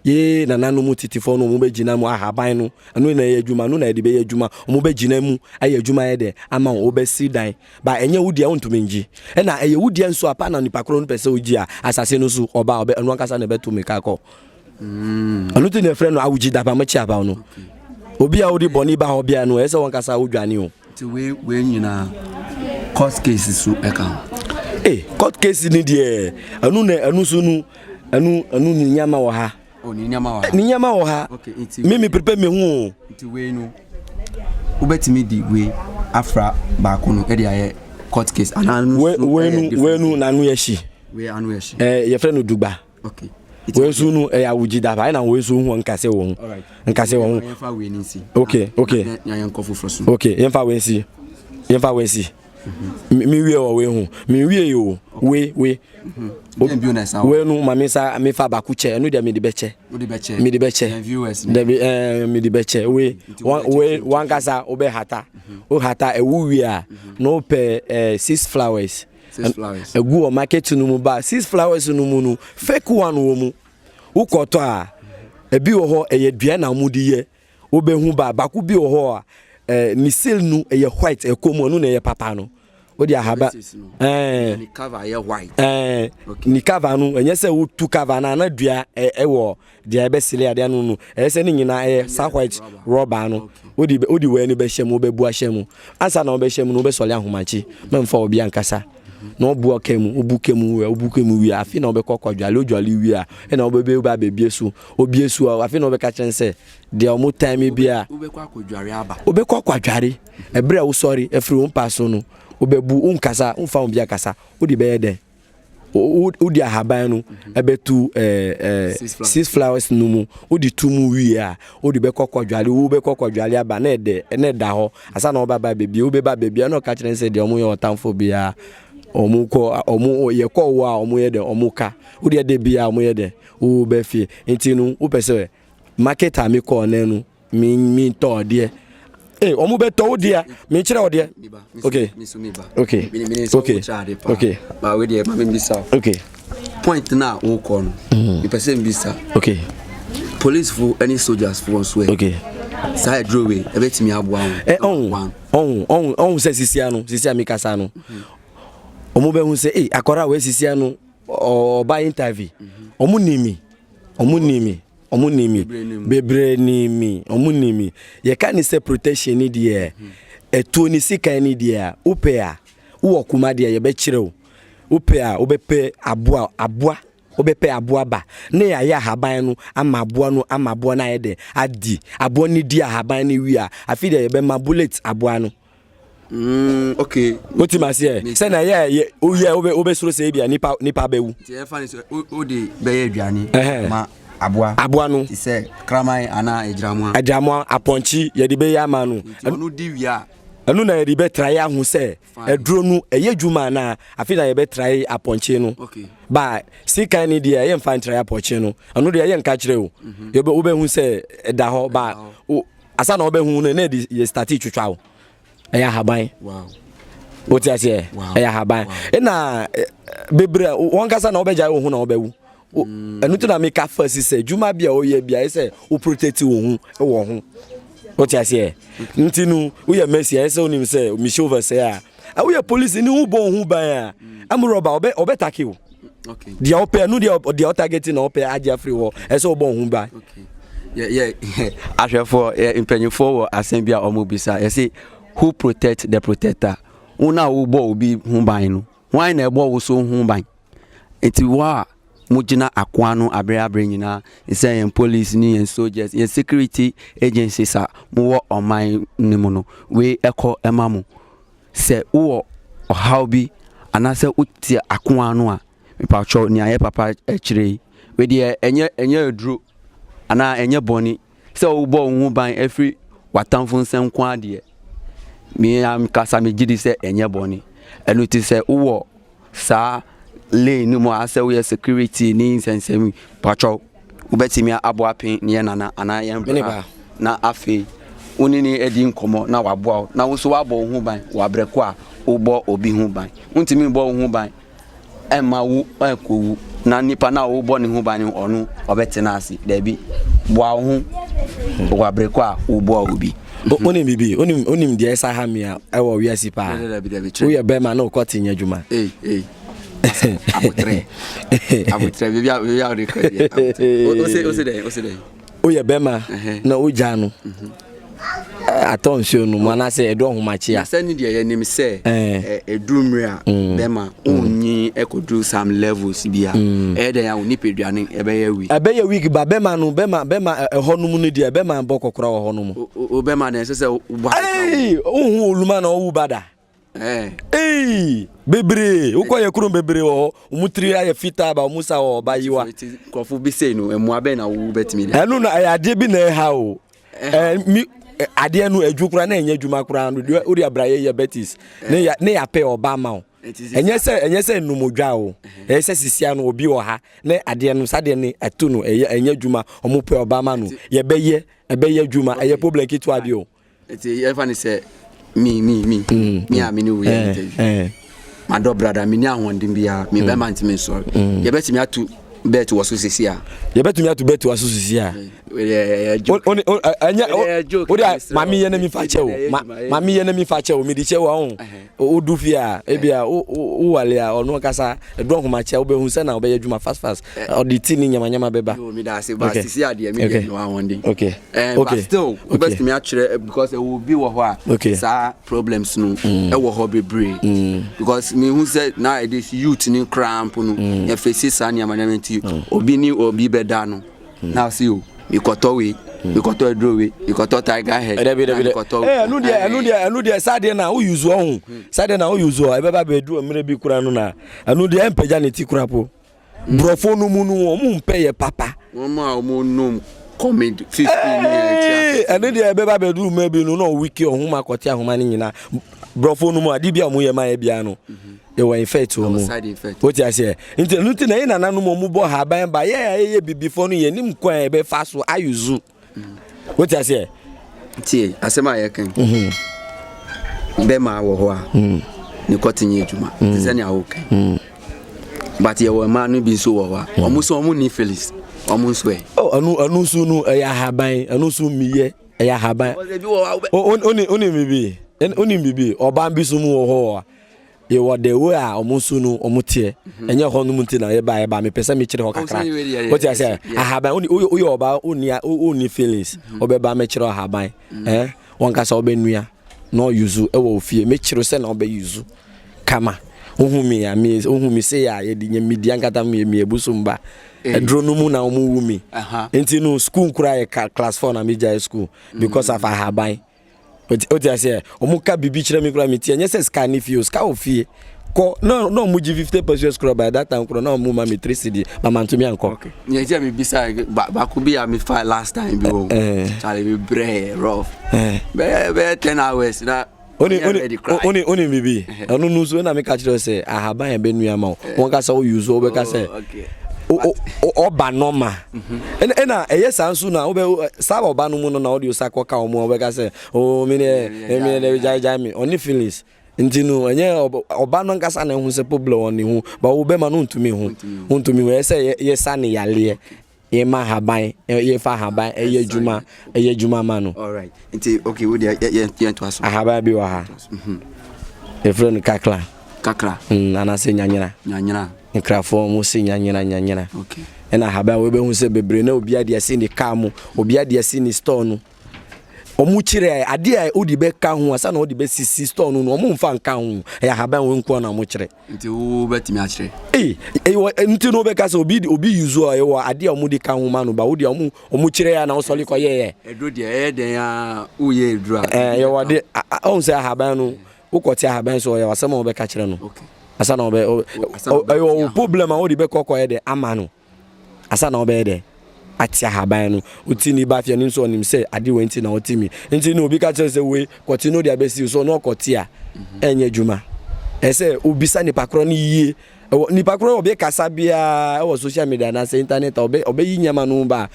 Yee, nananom mu tetefoɔ no, wɔbɛgyina mu, ahaban no. Ɛno na ɛyɛ adwuma, ɛno na yɛde bɛyɛ adwuma. Wɔbɛgyina mu, ayɛ adwuma ayɛ dɛ, ama wo, wobɛsi dan. Ba, ɛnyɛ wo deɛ, wontumi ngye. Ɛna ɛyɛ wo deɛ nso a, pa na nipa korɔ no pɛ sɛ ɔgye a, asase no so, ɔba a, ɔbɛ, ɛno ankasa na ɛbɛto mmirika akɔ. ɛno nti na ɛfrɛ no awogye daba mo kye abaw no obi a wode bɔne ba hɔ bia no ɛyɛ sɛ wɔnkasa wodwane o nti wei nyinaa court case so ɛka ho e court case ni deɛ ɛno na ɛno so no ɛno ɛno ne nneɛma wɔ ha oh, ne nneɛma wɔ ha me me prepare me ho o nti wei no wobɛtumi di wei afra baako no ɛde ayɛ court case anaa wenu wenu n'ano yɛ hyi yɛfrɛ no dugba okay wɔn nso no ɛyɛ awogye da ayɛ na wɔn nso ho nkasɛ wɔn nkasɛ wɔn okay okay okay yɛmfa wɔn nsi yɛmfa wɔn nsi mi wie wɔ wei ho mi wie yi o wei wei wei no ma mi nsa mi fa baako kyɛ ɛno deɛ mi de bɛ kyɛ mi de bɛ kyɛ dɛbi ɛɛ mi de bɛ kyɛ wei wei wankasa o bɛ hata o hata ɛwo wie a na o pɛ ɛɛ six flowers. ɛgu wɔ market no mu ba six flowers no mu no fake one wɔ mu wokɔtɔ a ebi wɔ hɔ ɛyɛ dua na wɔde yɛ wobɛhu ba baako bi wɔ hɔ a ɛɛ ne seal no ɛyɛ white ɛkɔ mu ɛno na ɛyɛ papa no wode ahaba ɛɛ ne cover no ɛnyɛ sɛ wotu cover no ana dua ɛwɔ. Deɛ ɛbɛ sili adeɛ ano no, ɛyɛ sɛ ne nyinaa ɛyɛ saa white rɔba ano. Wodi wodi wei no bɛhyɛ mu, wobɛbu ahyɛ mu. Ansa na wobɛhyɛ mu no, wobɛsɔle ahomakye. Mɛmfa obi ankasa. Na wobu ɔka mu, wobu ka mu, wobu ka mu wie a, afei na wobɛkɔ kɔ dwale, wodwale wie a, ɛna wobɛbɛ wobɛ abɛbie so. Obie so a, afei na wobɛka kyerɛ sɛ, deɛ wɔn tan mi bi a. Wobɛkɔ akɔdware aba. Wobɛkɔ akɔdware. Ɛberɛ a wosɔre afiri wo mpa so no, wobɛbu, wonkasa, womfa obi akasa. Wode bɛyɛ dɛn? wode ahaban no ɛbɛtu six flowers no mu wode tu mu wie a wode bɛkɔ kɔdwale wo bɛkɔ kɔdwale aba na ɛdɛ na ɛda hɔ asa na wɔbɛba baabi wobɛba baabi a na ɔka kyerɛ sɛ deɛ wɔn yɛ ɔtamfo biara wɔn kɔ wɔn yɛ kɔ wɔ a wɔn yɛ dɛ wɔn ka wode ɛdɛ biara wɔn yɛ dɛ wo bɛ fie nti no wopɛ sɛ market a mi kɔɔ nɛ no mi mi tɔ adeɛ ee wɔn bɛ tɔ o deɛ mi n kyerɛ o deɛ ok ok ok ok maa o deɛ maa mi n bisa ok point na o kɔ no mi pɛ sɛ n bisa ok police fo ɛni soldiers fo wɔn so ɛ ok saa yɛ duro wei ɛbɛ tumi aboa wɔn ɛ ɔhun ɔhun ɔhun ɔhun sɛ sisi ano sisi ami kasa ano wɔn bɛ hu sɛ ee akɔra wei sisi ano ɔba interview wɔn ni mi wɔn ni mi. Ɔmo nim mi. Bebree nim mi. Ɔmo nim mi. Yɛ ka ne sɛ protection ni deɛ ɛtuo ni sikan ni deɛ a wo pɛ a wo wɔ kuma deɛ yɛ bɛ kyerɛ wo wo pɛ a wo bɛ pɛ aboa aboa wo bɛ pɛ aboa ba ne yɛ ayɛ ahaban no ama aboa no ama aboa no ayɛ dɛ adi aboa no di ahaban no wie a afi deɛ yɛ bɛ ma bullet aboa no. Mm, okay. What you must say? Say na yeah, yeah. Oh yeah, obe obe soro say bia nipa nipa bewu. Ti e fa ni so o de be ye aduane. Eh. Ma aboa. Aboa no. Ti sɛ kraman ana agyiramoa. Agyiramoa apɔnkye yɛ de be ya ma no. Ɔno di wia. Ɛno na yɛde bɛtrae aho sɛ aduro no ɛyɛ adwuma anaa afei na yɛbɛtrae apɔnkye no ba sikan ne deɛ yɛmfa ntrae apɔnkye no ɛno deɛ yɛnka kyerɛ o mhm. wobɛhu sɛ ɛda hɔ ba Asa na ɔbɛhu no na ɛde yɛ stati twitwa o ɛyɛ ahaban o ti aseɛ ɛyɛ ahaban ɛna bebree wɔn kasa na ɔbɛgya wɔn ho na ɔbɛwu mm. ɛno ti na mi ka fa si sɛ dwuma bi a ɔyɛ bi a ɛsɛ o protect wɔn ho wɔ ho o ti aseɛ nti no woyɛ mɛsi ɛsɛ onim sɛ mihyɛ over sɛ a. Awo yɛ police ni wo bɔn ho ban a am rɔba ɔbɛ ɔbɛ take o. Deɛ ɔpɛ no deɛ deɛ ɔtagɛti na ɔpɛ agye afiri hɔ ɛsɛ wo bɔn ho ban. Yɛ yɛ ahwɛfoɔ yɛ mpanyinfoɔ wɔ asɛm bi a wɔn bisa yɛsi who protect the protector wɔn a wɔbɔ obi ho ban no wɔn na ɛbɔ wo so ho ban. Enti wo a mogyina ako ano abere abere nyinaa, sɛ yɛn police ne yɛn soldiers, yɛn security agencies a mowɔ ɔman no mu no, wei ɛkɔ ɛma mo. Sɛ wowɔ ɔhaw bi anaasɛ wote ako ano a, mepatwɔ nea yɛ papa ɛkyerɛ yi, wei deɛ ɛnyɛ ɛnyɛ aduro anaa ɛnyɛ bɔne. sɛ wobɔ wo ho ban afiri w'atamfo nsam nko ara deɛ, me ankasa megye di sɛ ɛnyɛ bɔne. Ɛno ti sɛ wowɔ saa lane no mu a sɛ woyɛ security ne nsɛnsɛm patwɔ wobɛtumi abɔ apen ne yɛ nana anaa yɛn bra na afei wo ne ne adi nkɔmmɔ na waboa wo na wo nso wabɔ wo ho ban wɔ abrɛ ko a wobɔ obi ho ban wontumi bɔ wo ho ban ɛmma wo ankowu na nipa no a wobɔ ne ho ban no ɔno ɔbɛtena ase daabi boa wo ho wɔ abere kɔ a woboa obi wonim biribi wonim deɛ ɛsa ha me a ɛwɔ wiase paa woyɛ bɛrima na wokɔ te nyɛ adwuma abotrɛ abotrɛ biribi a wode kɔ deɛ wose dɛn wose dɛn woyɛ bɛrima na wogyaa no atɔ nsuo no mu anaasɛ ɛdu ɔhomakye a sɛne deɛ yɛnim sɛ ɛduru mmerɛ a mm. bɛrima wonyi mm. ɛkɔduru some levels bi a mm. ɛyɛ dɛn a wo nipaduane ɛbɛyɛ weak ɛbɛyɛ weak ba bɛrima no bɛrima bɛrima ɛhɔ no mu no deɛ bɛrima bɔ kɔkora wɔ hɔ no mu o bɛrima na ɛsɛ sɛ wobɔ wohu oluma na ɔwu ba da Hey, bebree wokɔ yɛ kurom bebree wɔ hɔ wɔn tiri ayɛ fitaa ba wɔn sa wɔ ɔba yiwa. nkurɔfo bi sei no mmoa bɛn na wo bɛtumi de. ɛno na ɛyɛ adeɛ bi na ɛha o ɛɛ mi adeɛ no adwu koraa na ɛnyɛ adwuma koraa no deɛ wode abrayɛ yɛ betis ne yɛ ne yɛapɛ ɔba ma o ɛnyɛ sɛ ɛnyɛ sɛ nnumodwa o ɛyɛ sɛ sisia no obi wɔ ha na adeɛ no saa deɛ no ɛto no ɛyɛ ɛnyɛ adwuma wɔn pɛ ɔba ma no yɛbɛyɛ ɛbɛyɛ adwuma ɛyɛ problem ketewa bi o. Nti yɛfa ne sɛ mi mi mi mm, mi a mm. mi ne wo yɛ eh, interview eh. madɔ brada mi ni ahoɔden biara mi mm. bɛrima ntumi nsɔre yɛbɛtumi ato bɛɛti wɔ so sisi a. yɛbɛtumi ato bɛɛti wɔ so sisi a. o de maame yɛ ne mi fa kyɛ o maame yɛ ne mi fa kyɛ o mi di kyɛ wa o o du fi a ebi a o o wale a ɔno kasa edu ɔhoma kyɛ o bɛ hun sɛ na o bɛ yɛ adwuma fast fast. ɔde ti ne nyamanyama bɛba. Yo, me da ase, but Okay. sisi adeɛ me Okay. deɛ no ahoɔden. Okay. Eh, but Okay. still, Okay. wobɛtumi akyerɛ eh, because ɛwɔ obi wɔ hɔ a Okay. Mm. saa problems no ɛwɔ hɔ bebree because mehu sɛ nowadays youth no koraa mpo no Mm. yɛfɛsi saa nneɛma nneɛma nti obi ne obi bɛda no na ɔse o mekɔtɔ wei mekɔtɔ aduro wei mekɔtɔ tiger head Mm. Dabi, dabi, na dabi. mekɔtɔ- Eh, ɛno deɛ, ɛno deɛ, ɛno deɛ, saa deɛ na woyi zuo ho. Saa deɛ na woyi zuo. Ɛbɛba bɛduru mmerɛ bi kura no na. Ɛno deɛ ɛmpagya ne ti kura po. Brɔfo no mu no wɔn mpɛ yɛ papa. Wɔn a wɔn nom kɔmid fifteen ni yɛ ti ase. Ɛne deɛ ɛbɛ ba bɛduru mɛ bi no na ɔwiki ɔhom akɔte ahoma no nyinaa. Brɔfo no mu adeɛ bi a wɔn yɛ ma yɛ bia no. Ɛwɔ infect wɔn mu. O ti aseɛ. Nti ɛnu ti na yɛ nana nom wɔn bɔ haban ba yɛ a yɛ bibifo no yɛ nim kwan yɛ bɛ fa so ayuzu. wote aseɛ tie asɛm a yɛkan mhm. bɛma wɔ hɔ a mhm. ne kɔte nyɛ adwuma te mhm. sɛnea wokan but yɛwɔ mmaa no bi nso wɔ hɔ a ɔmo nso ɔmo ni felis ɔmo nso ɛ oh, ɛno ɛno nso no ɛyɛ ahaban ɛno nso mmiyɛ ɛyɛ ahaban onim bibi onim bibi ɔbaa bi so mu wɔ hɔ a yɛwɔ the way a wɔn nso no wɔn teɛ ɛnyɛ hɔ nom nti na yɛ ba yɛ ba mepɛ sɛ mekyerɛ hɔ kakra o ti sɛ ahaban o yɛ ɔba o ni o ni feelings ɔbɛ ba mekyerɛ ahaban ɛɛ wɔn kasa ɔbɛ nua na ɔyuzu ɛwɔ ofie mekyerɛ sɛ na ɔbɛ yuzu kama ohun mi ya mi ohun mi se ya yɛ di nyɛ mi di ankata mi yɛ mi yɛ busu mba ɛduro no mu na wɔn wu mi nti no school nkura yɛ class four na mi gya yɛ school because of ahaban. Mm -hmm. Oti oti aseɛ ɔmo ka bibi kyerɛ mi kura mi ti ɛnyɛ sɛ sika ne fie o sika wɔ fie kɔ na na ɔmo gye fifty pesos kura by that time kura na ɔmo ma mi three cedi ba ma ntumi ankɔ. okay nyɛ kyɛ mi bisa ba baako bi a mi fa last time bi wɔ kyale mi brɛ yɛ rough bɛyɛ bɛyɛ ten hours na. oni oni oni oni bibi ɛno no nso ɛna mi ka kyerɛ sɛ ahaban yɛ bɛ nua ma o wɔn kasa o yuzu o bɛ ka sɛ ɔba nɔma. Ɛna ɛna ɛyɛ saa nso na wobɛ saa ɔba no mu no na ɔde osa kɔ ka wɔn a wɔbɛka sɛ oo mi deɛ ɛmi deɛ ɛbi gyae gyae mi ɔne feelings nti no ɛnyɛ ɔba no nkasa na ɛho sɛ problem wɔ ne ho ba wo bɛma no ntumi ho ntumi ho ɛsɛ yɛ yɛ sa ne yaleɛ yɛ ma haban yɛ fa haban ɛyɛ adwuma ɛyɛ adwuma ma no. alright nti okay wo deɛ yɛ yɛ yɛn to aso. ahaban bi wɔ ha yɛfrɛ no kakra kakra mm, anaasɛ nyanyera nyanyera Nkrafo a wɔse nyanyera nyanyera na ahaban a wɔbɛhu sɛ bebree na obi ade asi ne kaa mu, obi ade asi ne store no. Wɔn kyerɛ ade a wode bɛka ho asa na wɔde bɛsisi store no no wɔn mfa nka ho. Ɛyɛ ahaban wɔn nko na wɔn kyerɛ. Nti wo bɛtumi akyerɛ. Ee, ɛwɔ nti no bɛka sɛ obi obi use a ɛwɔ ade a wɔn de ka ho ma no ba wo deɛ wɔn wɔn kyerɛ ya na wɔsɔre kɔ yɛyɛ. Ɛduro deɛ ɛyɛ dɛn a woyɛ ɛduro a. Ɛɛ yɛwɔ ade ɔn sɛ ahaban no wokɔ te ahaban so ɔyɛ asɛm a wɔbɛka kyerɛ no asa na ɔbɛ ɛyɛ ɔwɔ problem a wɔde bɛkɔ kɔ yɛ dɛ ama no asa na ɔbɛyɛ dɛ ate ahaban no oti ni ba fia ni nso ɔnim sɛ ade wɔ nti na ɔte mi nti na obi ka kyerɛ sɛ wei kɔte no de abɛsi so ɔno ɔkɔte a ɛnyɛ adwuma ɛsɛ obisa nipa korɔ no yie Wɔ nipa koro a ɔbɛ kasa biara wɔ social media anaasɛ internet a ɔbɛ ɔbɛ yi nneɛma no ba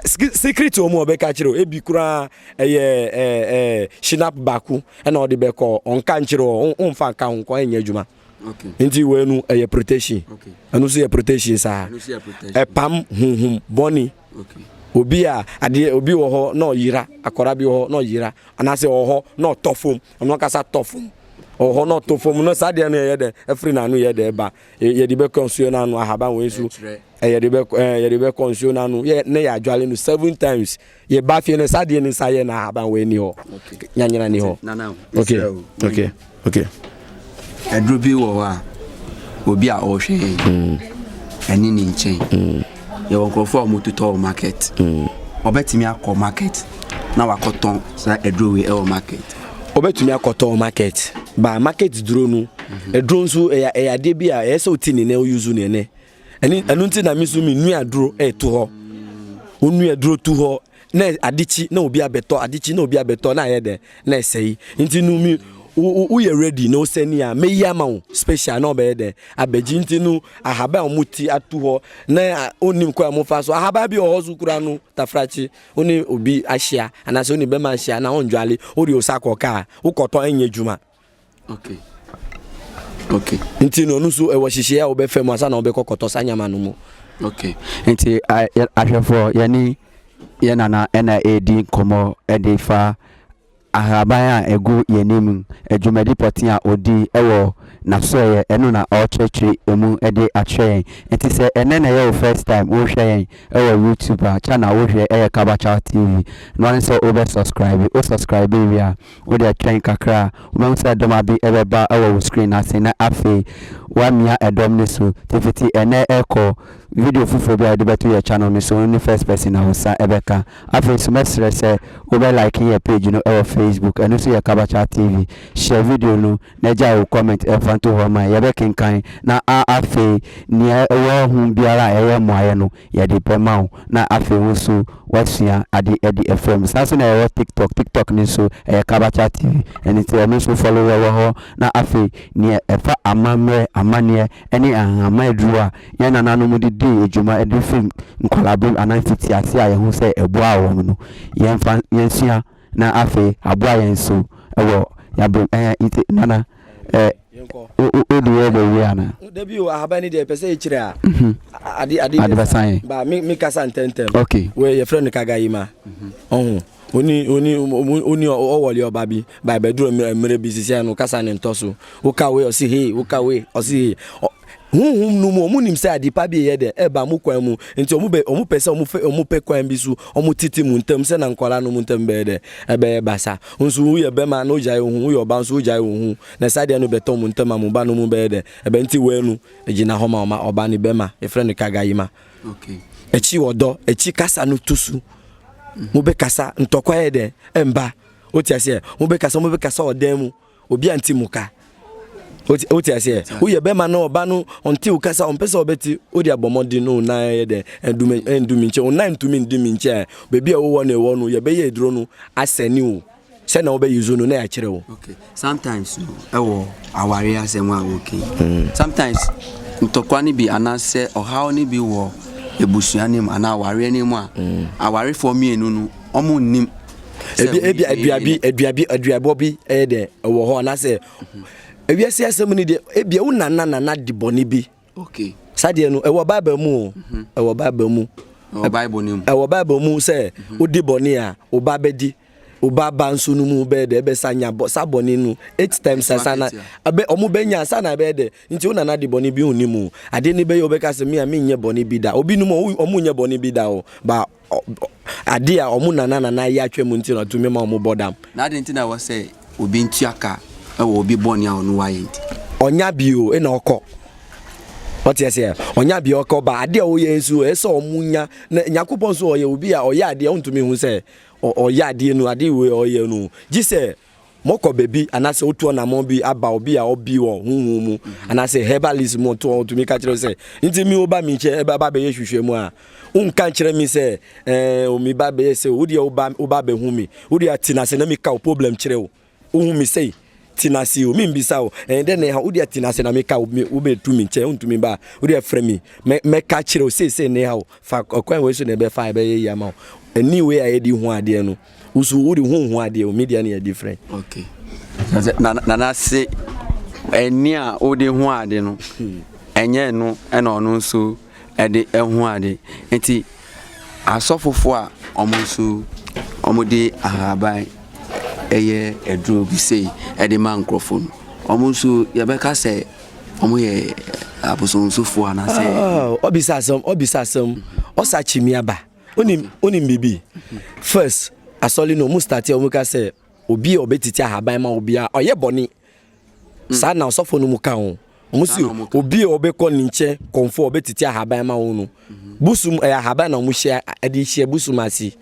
secret wɔn a ɔbɛ ka kyerɛ ebi koraa ɛyɛ ɛɛ ɛɛ shinap baako ɛna ɔde bɛ kɔ ɔnka nkyerɛ ɔ ɔnfa nka ho nkɔ ɛnyɛ adwuma nti wɔ ɛnu ɛyɛ protection ɛnu so yɛ protection saa ɛpam huhum bɔni. Obi a adeɛ obi wɔ hɔ na ɔyera, akwadaa bi wɔ hɔ na ɔyera, anaasɛ ɔwɔ hɔ na ɔtɔ fam, ɔno ankasa tɔ fam. Ɔwɔ hɔ na ɔtɔ fam no, saa adeɛ no yɛyɛ dɛ, ɛfiri n'ano yɛ dɛ ba, yɛde bɛkɔ nsuo no ano, ahaban wei nso, yɛde bɛkɔ ɛɛ yɛde bɛkɔ nsuo no ano, yɛ ne yɛ adwale no seven times. Yɛ ba fie no, saa adeɛ no nsa yɛ na ahaban wei ni hɔ, nyanyina ni hɔ. Okay, okay. Okay. Aduro bi wɔ hɔ a obi a ɔrehwɛ yɛn mm. ɛne ne nkyɛn mm. yɛwɔ nkurɔfoɔ a wɔtotɔ wɔ market mm. ɔbɛtumi akɔ market na wakɔtɔn saa aduro wei ɛwɔ market ɔbɛtumi akɔtɔn wɔ market ba market duro no mhm. aduro nso ɛyɛ ɛyɛ adeɛ bi a ɛyɛ sɛ ɔti ne nɛ ɔyuzu ne nɛ ɛne ɛno nti na mi nso mi nua aduro ɛto hɔ onua aduro to hɔ na ade kyi na obi abɛtɔ ade kyi na obi abɛtɔ na ayɛ dɛ na ɛsɛe nti no mi woyɛ ready na ɔsɛ ni a meyi ama wo special na ɔbɛyɛ dɛ abɛgye nti no ahaban a wɔn ti ato hɔ na onim kɔ a wɔn fa so ahaban bi wɔ hɔ so kura no tafrakye one obi ahyia anaasɛ one bɛma ahyia na ɔndwale ɔde osa kɔ kaa wokɔtɔ ɛnyɛ adwuma okay okay nti no ɔno nso ɛwɔ hyehyɛ a wɔbɛfɛ mu asa na wɔbɛkɔ kɔtɔ saa nyama no mu okay nti ahwɛfoɔ yɛne yɛn nana ɛna ɛredi nkɔmmɔ ɛde fa ahaban a ɛgu yɛn anim adwumadi pɔtee a ɔdi ɛwɔ n'asɔeɛ ɛno na ɔrekyerɛkyerɛ ɛmu ɛde akyerɛ yɛn nti sɛ ɛnɛ na ɛyɛ wo first time wohwɛ yɛn ɛwɔ youtube a channel wohwɛ ɛyɛ kabakyal tv na ɔne sɛ wobɛ subscribe wo subscribe wie a Wode atwɛn kakra a, wobɛhu sɛ dɔm abi bɛba wɔ wo screen no ase na afei woamia dɔm no so. Nti fiti ɛnnɛ rekɔ, video foforɔ biara a yɛde bɛto yɛn channel no so no ne first person na wo nsa bɛka. Afei nso mɛsrɛ sɛ wobɛ like yɛn page no wɔ Facebook, ɛno nso yɛ Kabachat TV. Share video no na gyae wo comment fa nto hɔ ma yɛn. Yɛbɛkenkan na afei nea ɛwɔ ho biara a ɛyɛ mmuaeɛ no, Yɛde bɛma wo na afei wo nso woasua ade adi afra mu. Saa nso na yɛwɔ TikTok, TikTok no nso ɛyɛ Kabacha TV, ɛno nti ɛno nso follow yɛn wɔ hɔ. Na afei neɛ ɛfa amammerɛ, amanneɛ ɛne nhama aduro a yɛn nananom de dii dwuma ɛde firi nkwadaa berɛ mu anaa mfitiaseɛ a yɛhu sɛ ɛboaa wɔn no, yɛmfa yɛnsua. na afei aboa yɛn nso wɔ yɛn abere mu. Ɛhɛn, nti Nana, ɛ, Yɛnkɔ. wo, wo, wode wo rebɔ wie anaa? Oh, dabi o, ahaban ni deɛ, pɛ sɛ ɛkyire a, a- ade, ade Ade bɛsa bɛsan yɛn. yɛn. Ba, me, me kasa ntɛntɛm. Ok. Wei, yɛfrɛ no Kagayima. Ɔho, oni, oni, ɔmo, oni, ɔ- ɔwɔle ɔba bi, ba, ɛbɛduru mmerɛ, mmerɛ bi, sisi ano, kasa no ntɔ so. Woka wei, ɔse hee, woka wei, ɔse hee. Ɔ- Honhom no mu, wɔn nim sɛ ade pa bi reyɛ dɛ reba wɔn kwan mu, nti wɔn bɛ, wɔn pɛ sɛ wɔn fɛ, wɔn pɛ kwan bi so, wɔn tete mu ntɛm sɛ na nkwadaa no mu ntɛm bɛyɛ dɛ, ɛbɛyɛ basa. Nso wo yɛ bɛma na ogyae wo ho, wo yɛ ɔbaa nso ogyae wo ho, na ɛsa deɛ no bɛtɔ wɔn ntɛm a wɔn ba no mu bɛyɛ dɛ, ɛbɛ nti wɛɛ no gyina hɔ ma wɔn ɔbaa no bɛma, yɛfrɛ no kagayima. Ɛkyi ɔdɔ, ɛkyi kasa no to su, wɔn bɛ kasa ntɔkwa yɛ dɛ mba, wote aseɛ, wɔn bɛ kasa, wɔn bɛ kasa ɔdan mu. Obi a nti mu ka. O ti ase ɛ. O yɛ bɛma no ɔba no ɔnti o kasa ɔmpɛ sɛ ɔbɛti o de abɔ mmɔden no na yɛ dɛ ɛdumi ɛndumi nkyɛn o na ntumi ndumi nkyɛn baabi a wowɔ no ɛwɔ no yɛ bɛyɛ eduro no asɛni o sɛ na wobɛ use no na yɛakyerɛ wo. Okay sometimes no ɛwɔ aware asɛm a wɔkɛ mm. sometimes ntɔkwa no bi anaasɛ ɔhaw no bi wɔ ebusua no mu anaa awareɛ no mu a mm. awarefoɔ mmienu no wɔn nnim. ebi ebi aduabi aduabi aduabɔ bi ɛyɛ dɛ ɛwɔ hɔ anaasɛ ewiase asɛm ni deɛ ebi ɛwɔ nana nana di bɔnne bi. okay sadeɛ no ɛwɔ bible mu o mhm. ɛwɔ bible mu. ɛwɔ bible mu. ɛwɔ bible mu sɛ mhm. odi bɔnne a ɔba bɛdi ɔba ba nso no mu bɛyɛ dɛ ɛbɛsa nya bɔ sa bɔnne no eight times sasa na ɛbɛ ɔmo bɛnya sa na ɛbɛyɛ dɛ nti o nana di bɔnne bi o ni mu adeɛ ni bɛyɛ ɔbɛka sɛ mi a mi nyɛ bɔnne bi da obi num ɔmo nyɛ bɔnne bi da o ba. ade a wɔn nananana ayɛ atwa mu nti na ɔtumi ma wɔbɔ dam. Na adɛn nti na ɛwɔ sɛ obi ntua ka wɔ obi bɔne a ɔno wayɛ nti? Ɔnya bio na ɔkɔ. Ɔte aseɛ, ɔnya bio ɔkɔ ba adeɛ a ɔyɛ nso ɛsɛ sɛ ɔmo nya na Nyankopɔn nso ɔyɛ obi a ɔyɛ adeɛ ɔntumi hu sɛ ɔyɛ adeɛ no adeɛ wei ɔyɛ no gye sɛ Mokɔ baabi anaasɛ wotu ɔnamɔn bi aba obi a ɔbi wɔ honhom mu anaasɛ herbalist mu to ɔtumi ka kyerɛ sɛ nti mi woba mi nkyɛn ɛbɛ aba bɛyɛ hwehwɛ mu a wonka nkyerɛ mi sɛ ɛɛ omi ba bɛyɛ sɛ wo deɛ woba woba bɛhu mi wo deɛ ti na sɛ na mi ka wo problem kyerɛ wo wohu mi sɛ ti na se o mi mbisa o ɛn dɛ na ɛha wo deɛ ti na sɛ na mi ka wo wo bɛ tu mi nkyɛn wontumi ba wo deɛ frɛ mi mɛ mɛ ka kyerɛ wo seesei na ɛha wo fa ɔkwan wei so na ɛbɛfa ɛbɛyɛ yie ama wo ɛni wei a yɛde hu adeɛ no Wusu wode ho ho adeɛ o media ne yɛ different. Okay. Nana se ɛni a wode ho ade no ɛnyɛ no ɛna ɔno nso ɛde ɛho ade nti asɔfofo a wɔn nso wɔn de ahaban ɛyɛ aduro bi sei ɛde ma nkurɔfo no wɔn nso yɛbɛka sɛ wɔn yɛ abosonsofo anaasɛ. ɔbisa asɛm ɔbisa asɛm ɔsa kyimi aba. Wonim wonim biribi? First asɔre no wɔn start a wɔn ka sɛ obi a ɔbɛtiti ahaban ma obi a ɔyɛ bɔne. Saa na ɔsɔfo no mu ka ho. Wɔn si obi a ɔbɛkɔ ne nkyɛn kɔnfo a ɔbɛtiti ahaban ma wɔn no. Busum ɛyɛ ahaban na wɔn hyɛ ɛde hyɛ busum ase.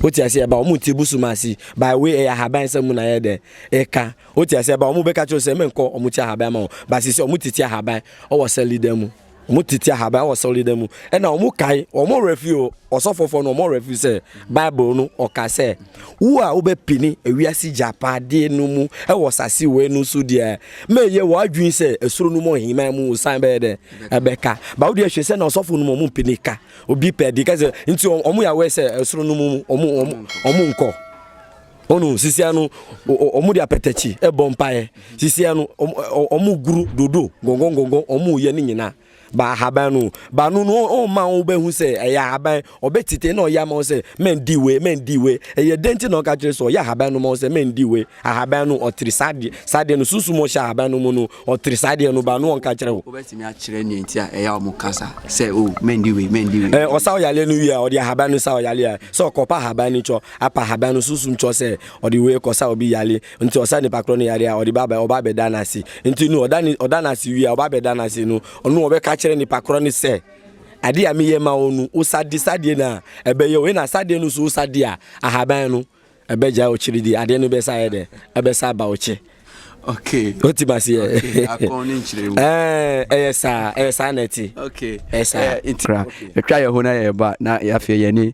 Wote ase ɛba wɔn ti busum ase. By way ɛyɛ ahaban sɛ mu na ɛyɛ dɛ ɛka. Wote ase ɛba wɔn bɛka kyerɛ sɛ mɛnkɔ wɔn ti ahaban ma wɔn. Basisi wɔn titi ahaban ɔwɔ sɛli dɛ mu. Wɔn tete ahaban wɔ sɔredan mu. Ɛna wɔn kae, wɔn werɛ fi o, ɔsɔfofo no wɔn werɛ fi sɛ Bible no ɔka sɛ wo a wobɛpini ewiase gyapade no mu wɔ sase wei no so deɛ ma ɛyɛ w'adwene sɛ esoro no mu ɔheman mu osan bɛyɛ dɛ ɛbɛka. Ba wo deɛ hwɛ sɛ na ɔsɔfo no mu wɔn mpini ka obi pɛ de ka sɛ nti wɔn yɛ awɛ sɛ esoro no mu wɔn wɔn wɔn nkɔ. Ɔno sisia no ɔmo de apɛtɛkyi ɛbɔ mpaeɛ sisia no ɔmo guru dodo gɔngɔngɔngɔ ɔmo yɛ ne nyinaa ba ahaban no ba no no ɔma wo bɛhu sɛ ɛyɛ ahaban ɔbɛ tete na ɔyɛ ama wo sɛ mɛn di we mɛn di we ɛyɛ den ti na ɔka kyerɛ sɛ ɔyɛ ahaban no ma wo sɛ mɛn di we ahaban no ɔtiri sadeɛ sadeɛ no sunsun ɔhyɛ ahaban no mu no ɔtiri sadeɛ no ba no ɔnka kyerɛ wo. wobɛtumi akyerɛ nea nti a ɛyɛ ɔmo kasa sɛ o oh, mɛn di we mɛn di we. ɔsa ɔyaleɛ no wie a ɔde ahaban no sa ɔyaleɛ a sɛ ɔkɔpa ahaban no kyɔ Apa haban no sunsum kyɔɔ sɛ ɔde wei kɔ sa obi yare nti ɔsa nipa korɔ no yare a ɔde ba bɛ ɔba bɛ da no ase nti no ɔda ne ɔda no ase wie a ɔba bɛ da no ase no ɔno ɔbɛ ka kyerɛ nipa korɔ no sɛ adeɛ a meyɛ ma wo no wosa de sadeɛ no a ɛbɛyɛ wei na sadeɛ no so wosa de a ahaban no ɛbɛ gya ɔkyiri di adeɛ no bɛ sa yɛ dɛ ɛbɛ sa ba ɔkyɛ okay oti ma se okay akon ne nkyerɛ mu eh ɛyɛ saa ɛyɛ saa na ɛte okay ɛyɛ saa nti etwa yɛ ho na yɛ ba na yɛ afɛ yɛ ne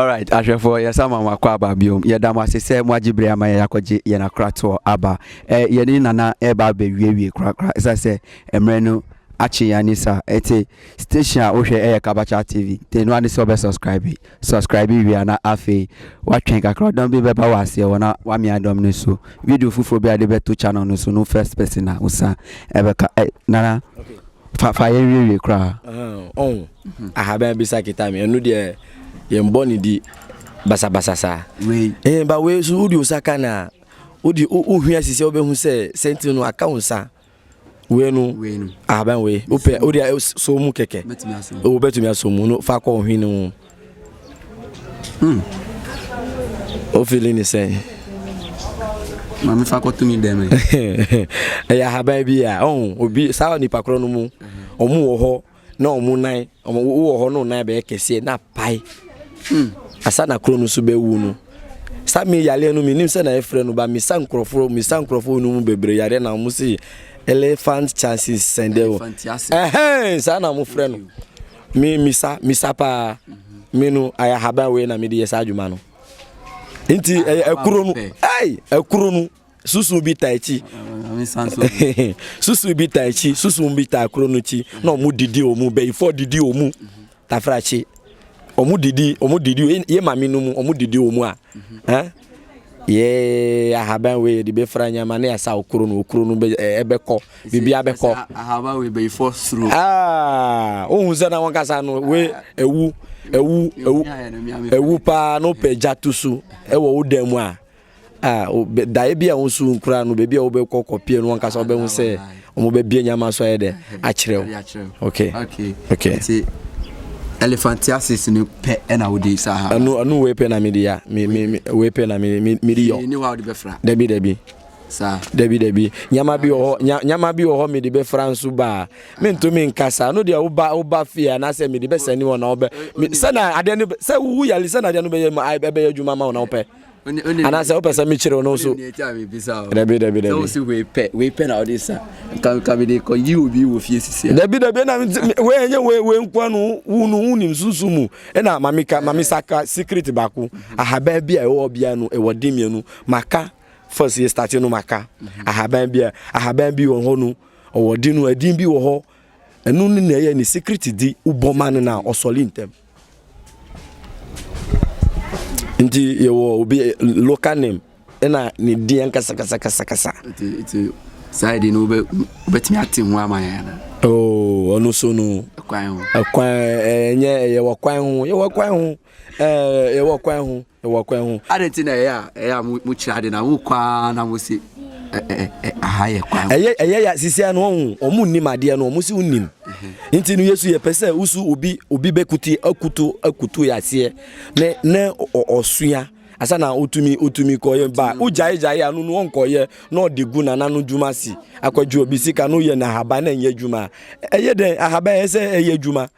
alright ahwɛfoɔ yɛsa ma mo akɔ aba biom yɛda mo ase sɛ mo agye bere ama yɛ akɔgye yɛn akoratoɔ aba eh, yɛne nana ɛreba abɛwiewie korakora ɛsiane sɛ mmerɛ no akye yɛn ani sa ɛte station a wohwɛ ɛyɛ kabacha tv te no ane sɛ ɔbɛ subscribe Subscribe wie a na afei watwɛn kakra ɔdɔm bi bɛba waseɛ hɔ na wamea dɔm no so video foforɔ bi a de bɛto channel no so no first person a wosan ɛbɛka ɛ nana fa fa yɛn wiewie koraa ɔn ahaban bi sa kita me ɛno deɛ yɛn bɔ ne di basabasa saa wei ɛn ba wei so wode wo sa ka na wode wohwia sisi a wobɛhu sɛ sɛnti no aka wo nsa wei no wei no ahaban wei wopɛ wode so mu kɛkɛ wobɛtumi asɔ mu no fa kɔ ɔhwe no mu wofili hmm. ne sɛn maame fa kɔto mi dɛm ɛyɛ ahaban bi a ɔho obi saa nipa korɔ no mu ɔmo wɔ hɔ na wɔn nan wɔn wowɔ hɔ na wɔn nan bɛyɛ kɛseɛ na apae hmm. asa na koro no nso bɛwu no saa mi yareɛ no menim sɛ na yɛfrɛ no ba mesa nkurɔfoɔ mesa nkurɔfoɔ no mu bebree yareɛ na wɔn se elephant chances sɛndɛ wɔ ɛhɛn saa na wɔfrɛ no me misa misa paa mhm. me no ayɛ ahaban wei na mede yɛ saa adwuma no nti ɛkuro no ɛkuro no susu bi ta akyi susu bi ta akyi susu bi ta koro no akyi na ɔmo didi ɔmo bɛyifo didi ɔmo tafrakye ɔmo didi ɔmo didi yɛ maame no mu ɔmo didi ɔmo a ɛn yɛ ahaban wei yɛde bɛfra nyama ne yɛsa okuro no okuro no ɛbɛkɔ biribi abɛkɔ ahaban wei bɛyifo suro aa ohun sɛ na wɔn kasa no wei ewu ewu ewu ewu paa na ɔpɛ gya to so ɛwɔ wo dan mu a. Ah, wo, bɛ, daeɛ bi a wo nso nkura no, baabi a wobɛkɔ kɔpie no, wankasa wobɛhu sɛ wɔbɛbie nyama so ayɛ dɛ akyerɛ wo. Okay. Okay. Okay. Nti, elephantiasis no pɛ ɛna wode saa ha. Ɛno, ɛno wei pɛ na mede ya, me, me, me, wei pɛ na me, me, mede yɔ. Ni hɔ a wode bɛfra. Dabi, dabi. Saa. Dabi, dabi. Nyama bi wɔ hɔ, nya, nyama bi wɔ hɔ mede bɛfra nso baa. Mentumi nkasa. No deɛ woba, woba fie anaasɛ mede bɛsɛne wɔ na wobɛ, me, sɛ na adeɛ no, sɛ woyale sɛ na adeɛ no bɛyɛ, ɛbɛyɛ adwuma ma wo na wopɛ. anaasɛ wopɛ sɛ mekyerɛ wo no so dabi dabi dabi dabi dabi na wɛnyɛ wɛnkwa no wo no wonim sunsum mu ɛna mameka mamesaka secret baako ahaban bi a ɛwɔ bia no ɛwɔ de mmienu maka first yɛ start no maka ahaban bi a ahaban bi wɔ hɔ no ɔwɔ de no adin bi wɔ hɔ ɛno ne na ɛyɛ ne secret di wobɔ ma no na ɔsɔle ntɛm nti yɛwɔ obi local name ɛna ne din ankasakasakasakasa saa de no wobɛtumi ate ho ama yɛn ana oh, ɔno so no ɛkwan ɛnyɛ yɛwɔ kwan ho yɛwɔ kwan ho yɛwɔ kwan ho wɔ kwan ho. Adɛn nti na ɛyɛ a ɛyɛ a mokyiri ade na mokɔ ara na mose aha yɛ kwan ho? Ɛyɛ ɛyɛ ya sisi ano ɔho ɔmo nnim adeɛ no ɔmo si wonim nti no Yesu yɛpɛ sɛ wosu obi obi bɛkuti akutu akutu yɛ aseɛ ne ne ɔsua asa na otumi otumi kɔyɛ ba ogyae gyae ano no ɔnkɔyɛ na ɔde gu nana no dwuma si akwadwo obi sika no yɛ na ahaban na ɛnyɛ adwuma ɛyɛ dɛn ahaban ɛyɛ sɛ ɛyɛ adwuma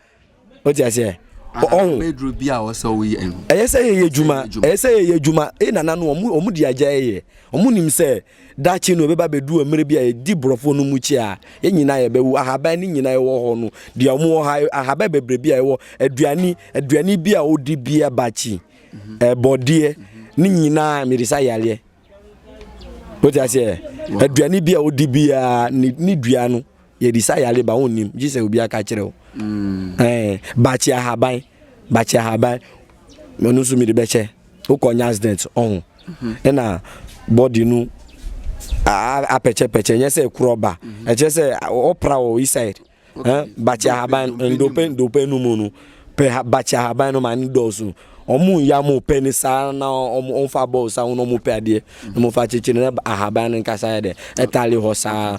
o ti aseɛ ɔho bɛduro bi a ɔsɛ wo yɛ no ɛyɛ sɛ yɛyɛ adwuma ɛyɛ sɛ yɛyɛ adwuma e nana no ɔmo ɔmo di agya yɛ ɔmo nim sɛ daakye no ɛbɛba bɛdu mmerɛ bi a yɛdi borɔfoɔ no mu kyi a yɛn nyinaa yɛbɛwu ahaban ne nyinaa ɛwɔ hɔ no deɛ ɔmo wɔ ha ahaban bebree bi a ɛwɔ aduane aduane bi a ɔdi bi abakyi mhm. ɛbɔdeɛ ne nyinaa mede sa yareɛ wote aseɛ aduane bi a ɔdi biara ne dua no Yɛbisa yare ba wonnim gye sɛ obi aka kyerɛ wo. Ɛɛ bakye ahaban bakye ahaban ɔno nso mede bɛkyɛ wokɔ nya accident ɔho ɛna body no apɛkyɛpɛkyɛ nyɛ sɛ korɔ ba ɛkyerɛ sɛ ɔpra wɔ east side bakye ahaban ndope ndope no mu no pɛ bakye ahaban no ma ne dɔɔso ɔmo yɛ ɔmo pɛ ne saa na ɔmo fa bɔɔl saa wɔn ɔmo pɛ adeɛ na ɔmo fa kyekyere na ahaban no nkasa yɛ dɛ ɛtale hɔ saa.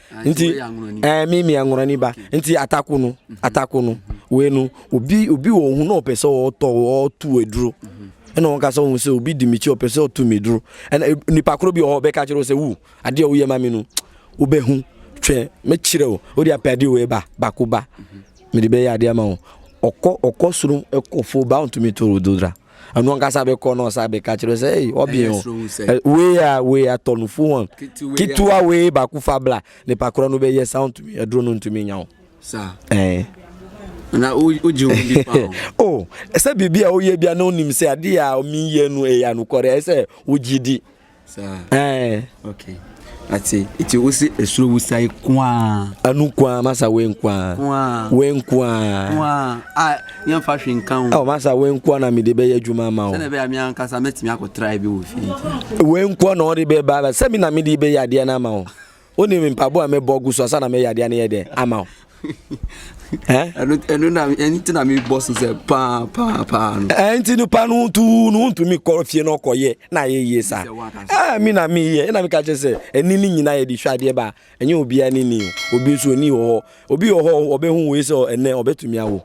nti ɛɛ mi mi anwurani ba nti atako no mhm. atako no wei no obi obi wɔ ohun na ɔpɛ sɛ ɔtɔ ɔtu aduro mhm. ɛna wɔn kasa wɔn sɛ obi di mi kyi ɔpɛ sɛ ɔtu mi duro ɛna e, nipa koro bi ɔhɔ bɛka kyerɛ sɛ wu adeɛ ɔyɛ ma mi no wobɛ hu twɛ mɛ kyerɛ o o de apɛ adeɛ wei ba baako ba mi mhm. de bɛ yɛ adeɛ ma o ɔkɔ ɔkɔ soro ɛkɔ fo ba ɔntumi to o do dra. ɛno ankasa bɛkɔ na ɔsa bɛka kyerɛ sɛ ei ɔbee ho wei a wei atɔ no fo wɔn ketewa wei baako fa bla nipa korɔ no bɛyɛ sa ntumi aduro no ntumi nya wo ɛɛ na wogye wo bi pa o oh, sɛ biribi a woyɛ bia na wonim sɛ adeɛ a ɔmeyɛ no ɛyɛ anokɔre ɛyɛ sɛ wogye di saa ɛɛ okay ate eti o se esoro wusae kwaa anu kwaa masa we nkwaa kwaa we nkwaa kwaa a yɛn fa hwe nka ho ɛwɔ masa we nkwaa na mi de bɛ yɛ adwuma ama o sɛnɛ bɛ ami ankasa mɛ tumi akɔ try bi wɔ fi nti we nkwaa na ɔde bɛ ba bɛ sɛ mi na mi de bɛ yɛ adeɛ na ama o. Wonim mpaboa a mebɔ gu so ansa na meyɛ adeɛ no yɛ dɛn ama wo? ɛno na ɛno ti na mebɔ so sɛ paa paa paa no. ɛnti nipa no tu no wontumi kɔ fie no ɔkɔyɛ na ayɛ yie saa ɛɛ mi na meyɛ ɛna meka kyerɛ sɛ ɛni ne nyinaa yɛde hwɛ adeɛ ba ɛnyɛ obiara ne ni obi nso ɔni wɔ hɔ obi wɔ hɔ ɔbɛhu wei sɛ ɛnɛ ɔbɛtumi awo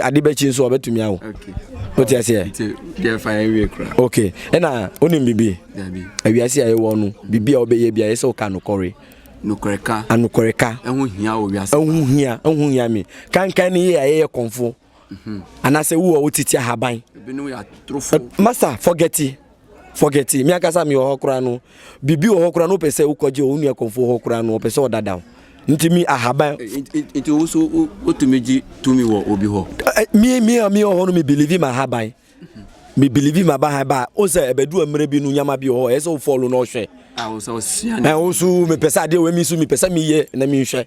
ade bɛkyi nso ɔbɛtumi awo wote aseɛ ok ɛna wonim biribi awiase a ɛwɔ no biribi a wobɛyɛ bia ɛsɛ woka nokɔre anokoreka ɛho hia ɛho hia me kankan no yɛ a yɛyɛ kɔmfo mhm. anaasɛ wo a wotiti ahaban masa forgeti Forget it, me ankasa me wɔ hɔ koraa no, biribi wɔ hɔ koraa no wopɛ sɛ wokɔgye wɔ wo nua kɔmfoɔ hɔ koraa no ɔpɛ sɛ ɔdada wo. Nti me ahaban. Nti wo so wotumi gye tumi wɔ obi hɔ? Me me a me wɔ hɔ no me believe ma ahaban. Me believe ma bahan ba o sɛ ɛbɛdu mmerɛ bi no nyama bi wɔ hɔ ɛsɛ wo follow na ɔhwɛ. Ah, wo sɛ ɔsua. Ɛwo so me pɛ sɛ adeɛ wɔ mi so me pɛ sɛ meyɛ na menhwɛ.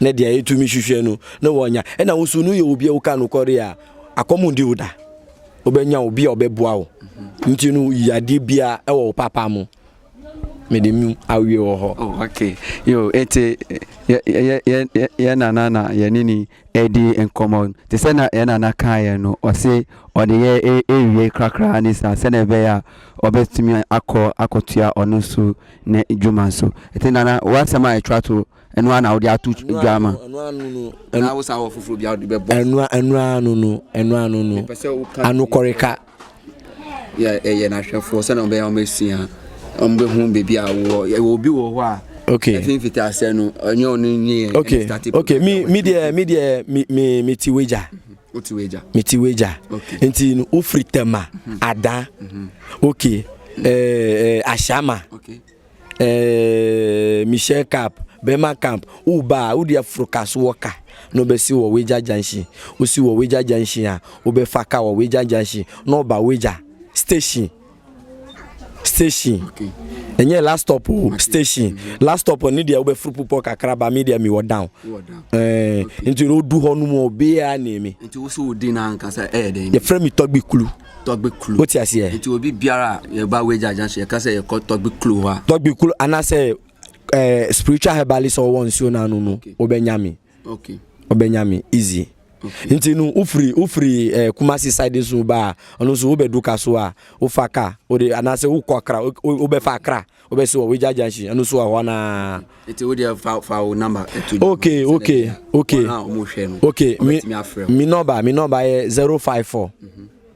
na deɛ yɛtumi hwehwɛ no na wɔnya ɛna wo nso no yɛ obi a woka nokɔre a akɔm ndi wo da wobɛnya obi a ɔbɛboa wo nti no yi adeɛ biara ɛwɔ wo papa mu mede mu awie wɔ hɔ oh, okay yo ɛte yɛ nana na yɛne ni ɛdi nkɔmmɔ te sɛ na yɛ nana kaeɛ no ɔse ɔde yɛ ɛwie e, krakra ne saa sɛdeɛ ɛbɛyɛ a ɔbɛtumi akɔ akɔtua ɔno nso ne dwuma nso. Ɛte nana w'asɛm a ɛtwa to ɛno ara na wode ato dwa ama. Ɛno ano no. Ɛna wosa wɔ foforɔ bi a wode bɛbɔ. Ɛno ɛno ano no ɛno ano no. Ɛpɛ sɛ woka. Anokɔreka. Yɛ ɛyɛ n'ahwɛfoɔ sɛnea ɔbɛyɛ wɔn asua wɔn bɛ ho beebi a wɔ ɛwɔ obi wɔ hɔ a. Okay. Ɛfi mfiti asɛ no ɛnyɛ ɔno nyɛ. Okay okay mi mi deɛ mi deɛ mi mi mi ti wagya. Wote wagya. Mete wagya. Okay. Nti no wofiri tɛma mhm. adan. Mhm. Okay. Mhm. Eh, eh, ahyama. Okay. Eh, Michelle Cap, Bema Camp, Uba, Udia Frukas Walker. No be si wɔ wagya junction. Wosi wɔ wagya junction a wobɛfa ka wɔ wagya junction na ɔba wagya station. station ɛnyɛ last stop o station last stop ne deɛ wobɛforo pupɔ kakra ba me deɛ mewɔ down eh, nti na ɔdu hɔ no mu obiaa ne me nti wo so wo din ankasa ɛyɛ dɛn yɛfrɛ me tɔgbe kulu tɔgbe kulu wote aseɛ nti obi biara yɛba wagya agya so yɛka sɛ yɛkɔ tɔgbe kulu hɔ a tɔgbe kulu anaasɛ eh, spiritual herbalist ɔwɔ nsuo no ano no wobɛnya me okay. okay ɔbɛnya me easy okay. nti no wofiri wofiri ɛɛ eh, kumasi side so ba a ɔno nso wobɛdu ka so a wofa ka wode anaasɛ wokɔ akra wobɛfa akra wobɛsi wɔ wagya junction ɛno nso wɔ hɔ naa. nti wode fa fa wo number ɛto dwa. okay okay okay okay mi mi nɔba mi nɔba yɛ zero five four. Mm -hmm.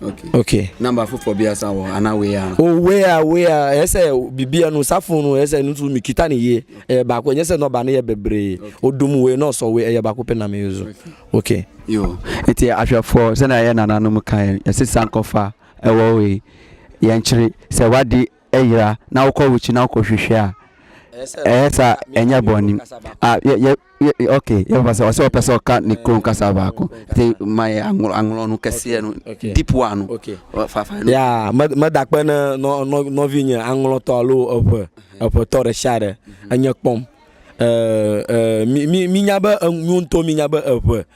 Okay. Okay. Number foforɔ bi asa wɔ ana wei a. O oh, wei a wei a ɛyɛ sɛ bibi ɛnu safo no ɛyɛ sɛ ɛnu nso mi kita ne yie ɛyɛ baako ɛnyɛ sɛ nɔba ne yɛ bebree o dum wei na ɔsɔ wei ɛyɛ baako pɛ na mi nso. Okay. Yo eti ahwɛfoɔ sɛnea ɛyɛ nananom kan ɛsɛ sankɔfa ɛwɔ wei yɛn kyerɛ sɛ wadi. yera na wokɔ wo kyi na wokɔ hwehwɛ a ɛyɛ sɛ ɛnyɛ bɔne a yɛ yɛ yɛ ok yɛbɛfa sɛ ɔsɛ ɔpɛ sɛ ɔka ne kurom kasa baako nti ma yɛ anglɔ anglɔ no kɛseɛ no deep one no ok fafa no ya meda kpɛ ne nɔvi nye anglɔtɔ alo eƒe eƒetɔ ɖe sia ɖe enye kpɔm mi mi minya be nu ŋutɔ minya be eƒe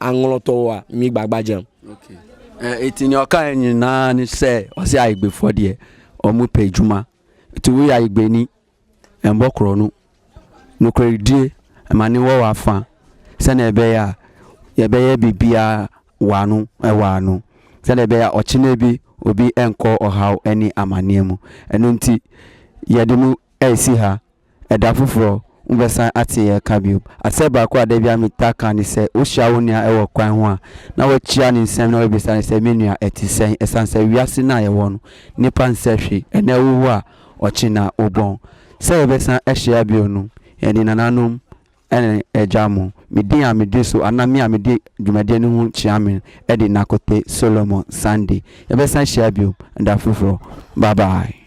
aŋlɔ tɔ wo a mi gbagba gyam. Okay. Eh, eti nea ɔkae nyinaa ne sɛ ɔse ayigbefoɔ deɛ ɔmo pɛ adwuma nti woyɛ ayigbeni ɛmbɔ korɔ no nokorɛdie ɛma ne wɔ w'afa sɛnea ɛbɛyɛ a yɛbɛyɛ biribiara wɔ ano ɛwɔ ano sɛnea ɛbɛyɛ a ɔkyena bi obi ɛnkɔ ɔhaw ɛne amaneɛ mu ɛno nti yɛde mu ɛresi ha Ɛda foforɔ, wobɛsan ate yɛn ka bio. Asɛm baako a da biara metaa ka ne sɛ, wohyia wo nua wɔ kwan ho a, na woakyia no nsɛm na woabisa no sɛ, Me nua, ɛte sɛn? Ɛsiane sɛ wiase no a yɛwɔ no, nnipa nsɛ hwee. Ɛnnɛ wowu a, ɔkye na wobɔn. Sɛ yɛbɛsan ahyia bio no, yɛne nananom ne agya mo, me din a medi so anaa me a mede dwumadie no ho kyea me de Nakote Solomon Sunday. Yɛbɛsan ahyia bio da foforɔ. Bye bye.